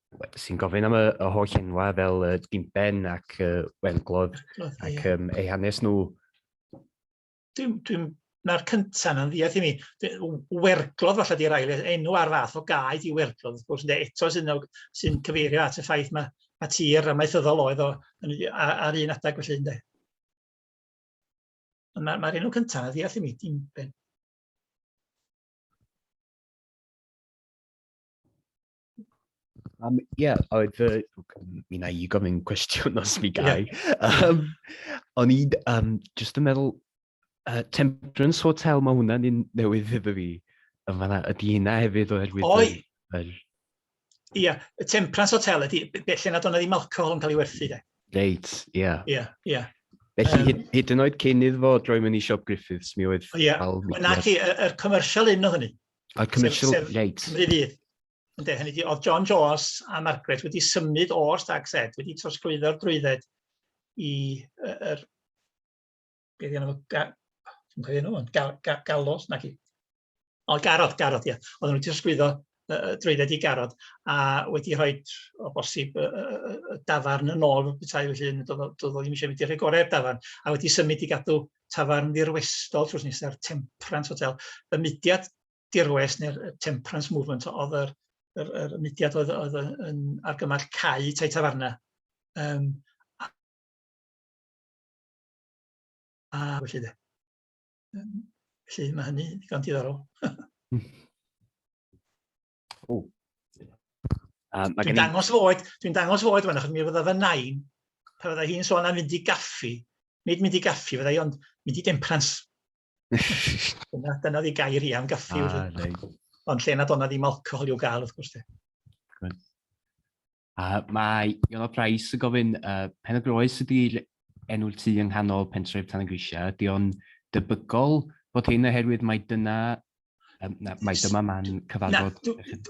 sy'n gofyn am y, y holl enwau fel uh, Gimben ac uh, Wenglodd ac um, eu hanes nhw. Dwi'n dwi, na'r cyntaf na'n ddiaeth i mi. Werglodd falle di'r ail, enw ar fath o gaed i werglodd, wrth gwrs, eto sy'n sy cyfeirio at y ffaith mae, mae tir amaethyddol oedd o ar un adeg felly, ynddo. Mae'r ma enw cyntaf na'n ddiaeth i mi, dim ben. Um, yeah, oedd fy... Mi na i gofyn cwestiwn os mi gai. Yeah. Um, o'n i um, just yn meddwl, uh, Temperance Hotel, mae hwnna'n un newydd iddo fi. Yn fanna, ydy hynna hefyd oherwydd... Oi! Yr... Ie, yeah, y Temperance Hotel ydy, felly nad o'n ddim alcohol yn cael ei werthu, de. Reit, ie. Yeah. Ie, yeah, ie. Yeah. Felly, um, hyd, hyd yn oed cyn iddo fo droi mewn i Siop Griffiths, mi oedd... Ie, yeah. na chi, yr commercial un o hynny. A commercial, sef, sef reit. Cymru Fydd. Ynde, hynny di, oedd John Jones a Margaret wedi symud o'r Stag Set, wedi trosglwyddo'r drwydded i yr... Er, beth yna, ga, dwi'n cofio nhw, ga, ga, galos, na chi. O, garod, garod, ie. Yeah. Oedden nhw wedi trosglwyddo uh, drwydded i garod a wedi rhoi o bosib y, y, y dafarn yn ôl y bethau felly doedd o ddim eisiau mynd i'r rhai gorau'r dafarn a wedi symud i gadw tafarn ddirwestol trws nesa'r Temperance Hotel, y mudiad dirwest neu'r Temperance Movement oedd yr, yr, yr mudiad oedd, oedd yn argymell cau tai tafarna. Um, a, a felly de. Um, felly mae hynny ddigon diddorol. Ww. Um, dwi'n dangos fy oed, dwi'n dangos fy oed fan, achos mi fydda fy nain, pa fydda hi'n sôn am fynd i gaffi, nid mynd i gaffi fydda i, ond mynd i demprans. dyna, dyna ddi gair i am gaffi. Ah, ond lle nad o'na ddim alcohol i'w gael, wrth gwrs. Uh, mae Iona Price yn gofyn, uh, pen y groes ydy'r enw'r tu yng nghanol pentref Tan y Grisiau. Ydy o'n debygol bod hyn oherwydd mae dyna um, na, mae dyma man cyfarfod.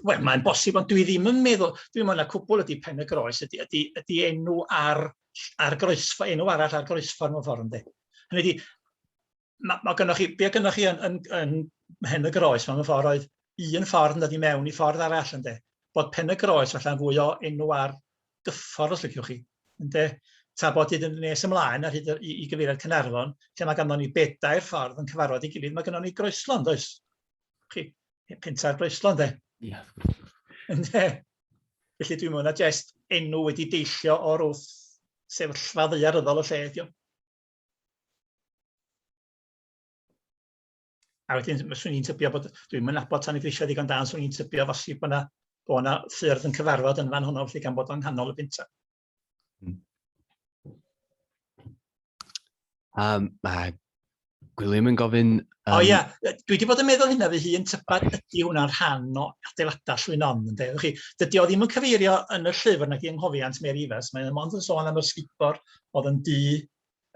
Wel, mae'n bosib, ond dwi ddim yn meddwl, dwi'n meddwl na cwbl ydy pen y groes, ydy, ydy, ydy enw ar, ar groesfa, enw arall ar groesfa mewn ffordd ynddi. Hynny ydy, mae ma gynnwch chi, be gynnwch chi yn, yn, yn hen y groes, mae'n ffordd oedd un ffordd yn dod i mewn i ffordd arall ynddo. Bod pen y groes falle'n fwy o enw ar gyffordd os liciwch chi. Ynddo. Ta bod hyd yn nes ymlaen ar hyd i, i gyfeiriad Cynarfon, lle mae ganddo ni bedair ffordd yn cyfarfod i gilydd, mae ganddo ni groeslon, does? Chi, penta'r groeslon, de? Ie. Yeah. Ynddo. Felly dwi'n mwyn a jest enw wedi deillio o'r wrth sefyllfa ddeiaryddol y lle, diolch. A wedyn, fyswn i'n tybio bod... Dwi'm yn nabod Tan y Grisiau ddigon da, ond 'swn i'n tybio felly bod 'na bod 'na ffyrdd yn cyfarfod yn fan hwnnw, felly gan bod o'n nghanol y pentre. Um, mae Gwilym yn gofyn... Um... O ia, dwi wedi bod yn meddwl hynna fy hun, tybad ydy hwnna'n rhan o adeiladau llwynon, ynde? Felly, dydy o ddim yn cyfeirio yn y llyfr nag i yng nghofiant Mary Evans, mae'n mond yn sôn am yr sgubor oedd yn dŷ,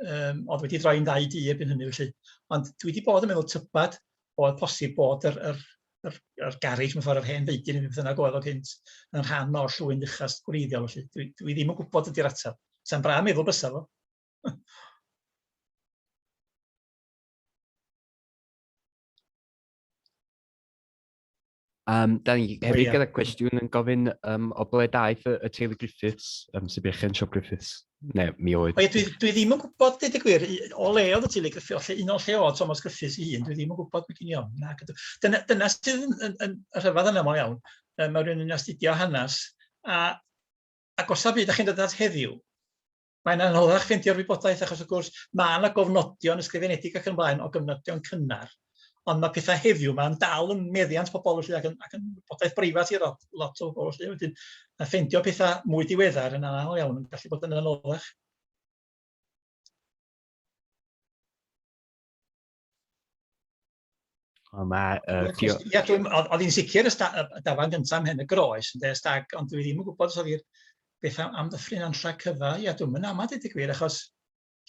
um, oedd wedi droi'n ddau dŷ erbyn hynny felly. Ond dwi wedi bod yn meddwl tybad oedd posib bod yr, yr, yr, yr garage mewn ffordd yr hen feidyn yn beth yna oedd o gynt yn rhan o'r llwy'n uchas gwreiddiol felly. Dwi, dwi ddim yn gwybod ydy'r ateb. Sa'n bra meddwl bysa fo. Um, da ni hefyd oh, yeah. gyda cwestiwn yn gofyn um, o ble daeth y, y teulu Griffiths, um, sy'n bechen siop Griffiths. Ne, mi oedd. O, ie, dwi, dwi ddim yn gwybod, dweud y gwir, o le oedd y teulu Griffiths, o lle, un o lle oedd Thomas Griffiths i un, dwi ddim yn gwybod beth i'n iawn. Na, dyna, dyna sydd yn, yn, yn rhyfedd yna mor iawn. Um, mae rhywun yn astudio hanes, a, a gosa byd, a chi'n dod at heddiw, Mae'n anoddach ffeindio'r wybodaeth achos wrth gwrs mae yna gofnodion ysgrifenedig ac yn blaen o gyfnodion cynnar ond mae pethau heddiw mae'n dal yn meddiant pobl felly ac yn, ac yn wybodaeth breifat i lot, lot o bobl felly wedyn a ffeindio pethau mwy diweddar yn anodd iawn yn gallu bod yn anoddach. Wel, mae... Uh, dio... Ia, dwi'n... Oedd hi'n sicr y, sta, y dafan gyntaf am hyn y groes, yn dweud stag, ond dwi ddim yn gwybod os oedd hi'r beth am, am ddyffryn anlla cyfa. Ia, dwi'n mynd amad i dy gwir, achos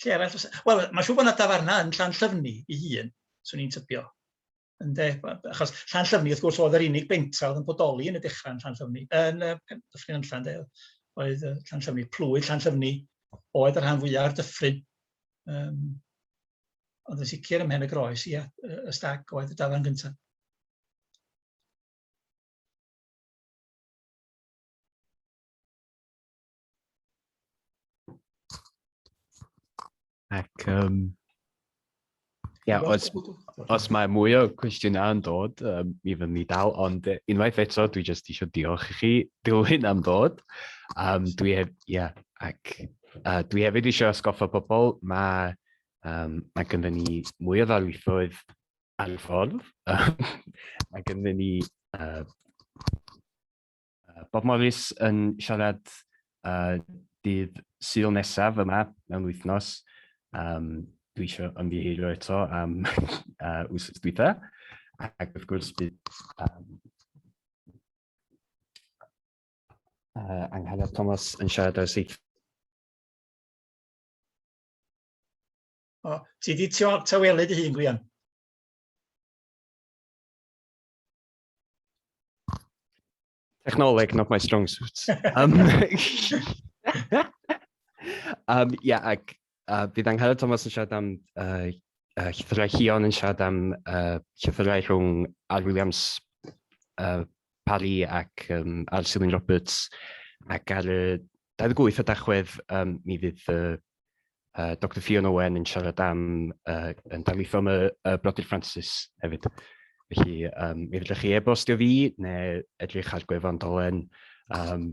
lle arall... Wel, mae siw bod yna dafarna yn llan llyfni i hun, swn i'n tybio. Ynde, achos llan llyfni, wrth gwrs, oedd yr unig bentra oedd yn bodoli yn y dechrau yn llan llyfni, yn y dyffryn anlla, ynde, oedd llan llyfni, plwydd llan llyfni, oedd y rhan fwyaf o'r dyffryn. Yym, ond yn sicr ym Mhen-y-groes, ia, y y stag oedd y dafarn gynta'. Ac um, yeah, os, os mae mwy o cwestiynau yn dod, um, mi fydd ni dal, ond unwaith eto, dwi jyst eisiau diolch i chi, Dilwyn, am ddod. Um, dwi heb, yeah, ac Uh, dwi hefyd eisiau ysgoffa pobl, mae, um, mae gynda ni mwy o ddarlithoedd ar y ffordd. mae gynda ni uh, Bob Morris yn siarad uh, dydd syl nesaf yma mewn wythnos. Um, dwi eisiau ymddiheurio eto am uh, wsos dwytha. Ac wrth gwrs bydd um, Uh, Angharad Thomas yn siarad ar syth. O, ti di tawelu dy hun, Gwian? Technoleg, not my strong suit. um, um, yeah, ac Uh, bydd Angela Thomas yn siarad am uh, uh, llythyrau Hion yn siarad am uh, llythyrau rhwng Al Williams uh, Parry ac um, Al Silwyn Roberts ac ar y 28 o dachwedd um, mi fydd uh, uh, Dr Fiona Owen yn siarad am uh, yn darlitho am y, y Brodyr Francis hefyd. Felly, um, mi fydrwch chi e-bostio fi neu edrych ar gwefan dolen um,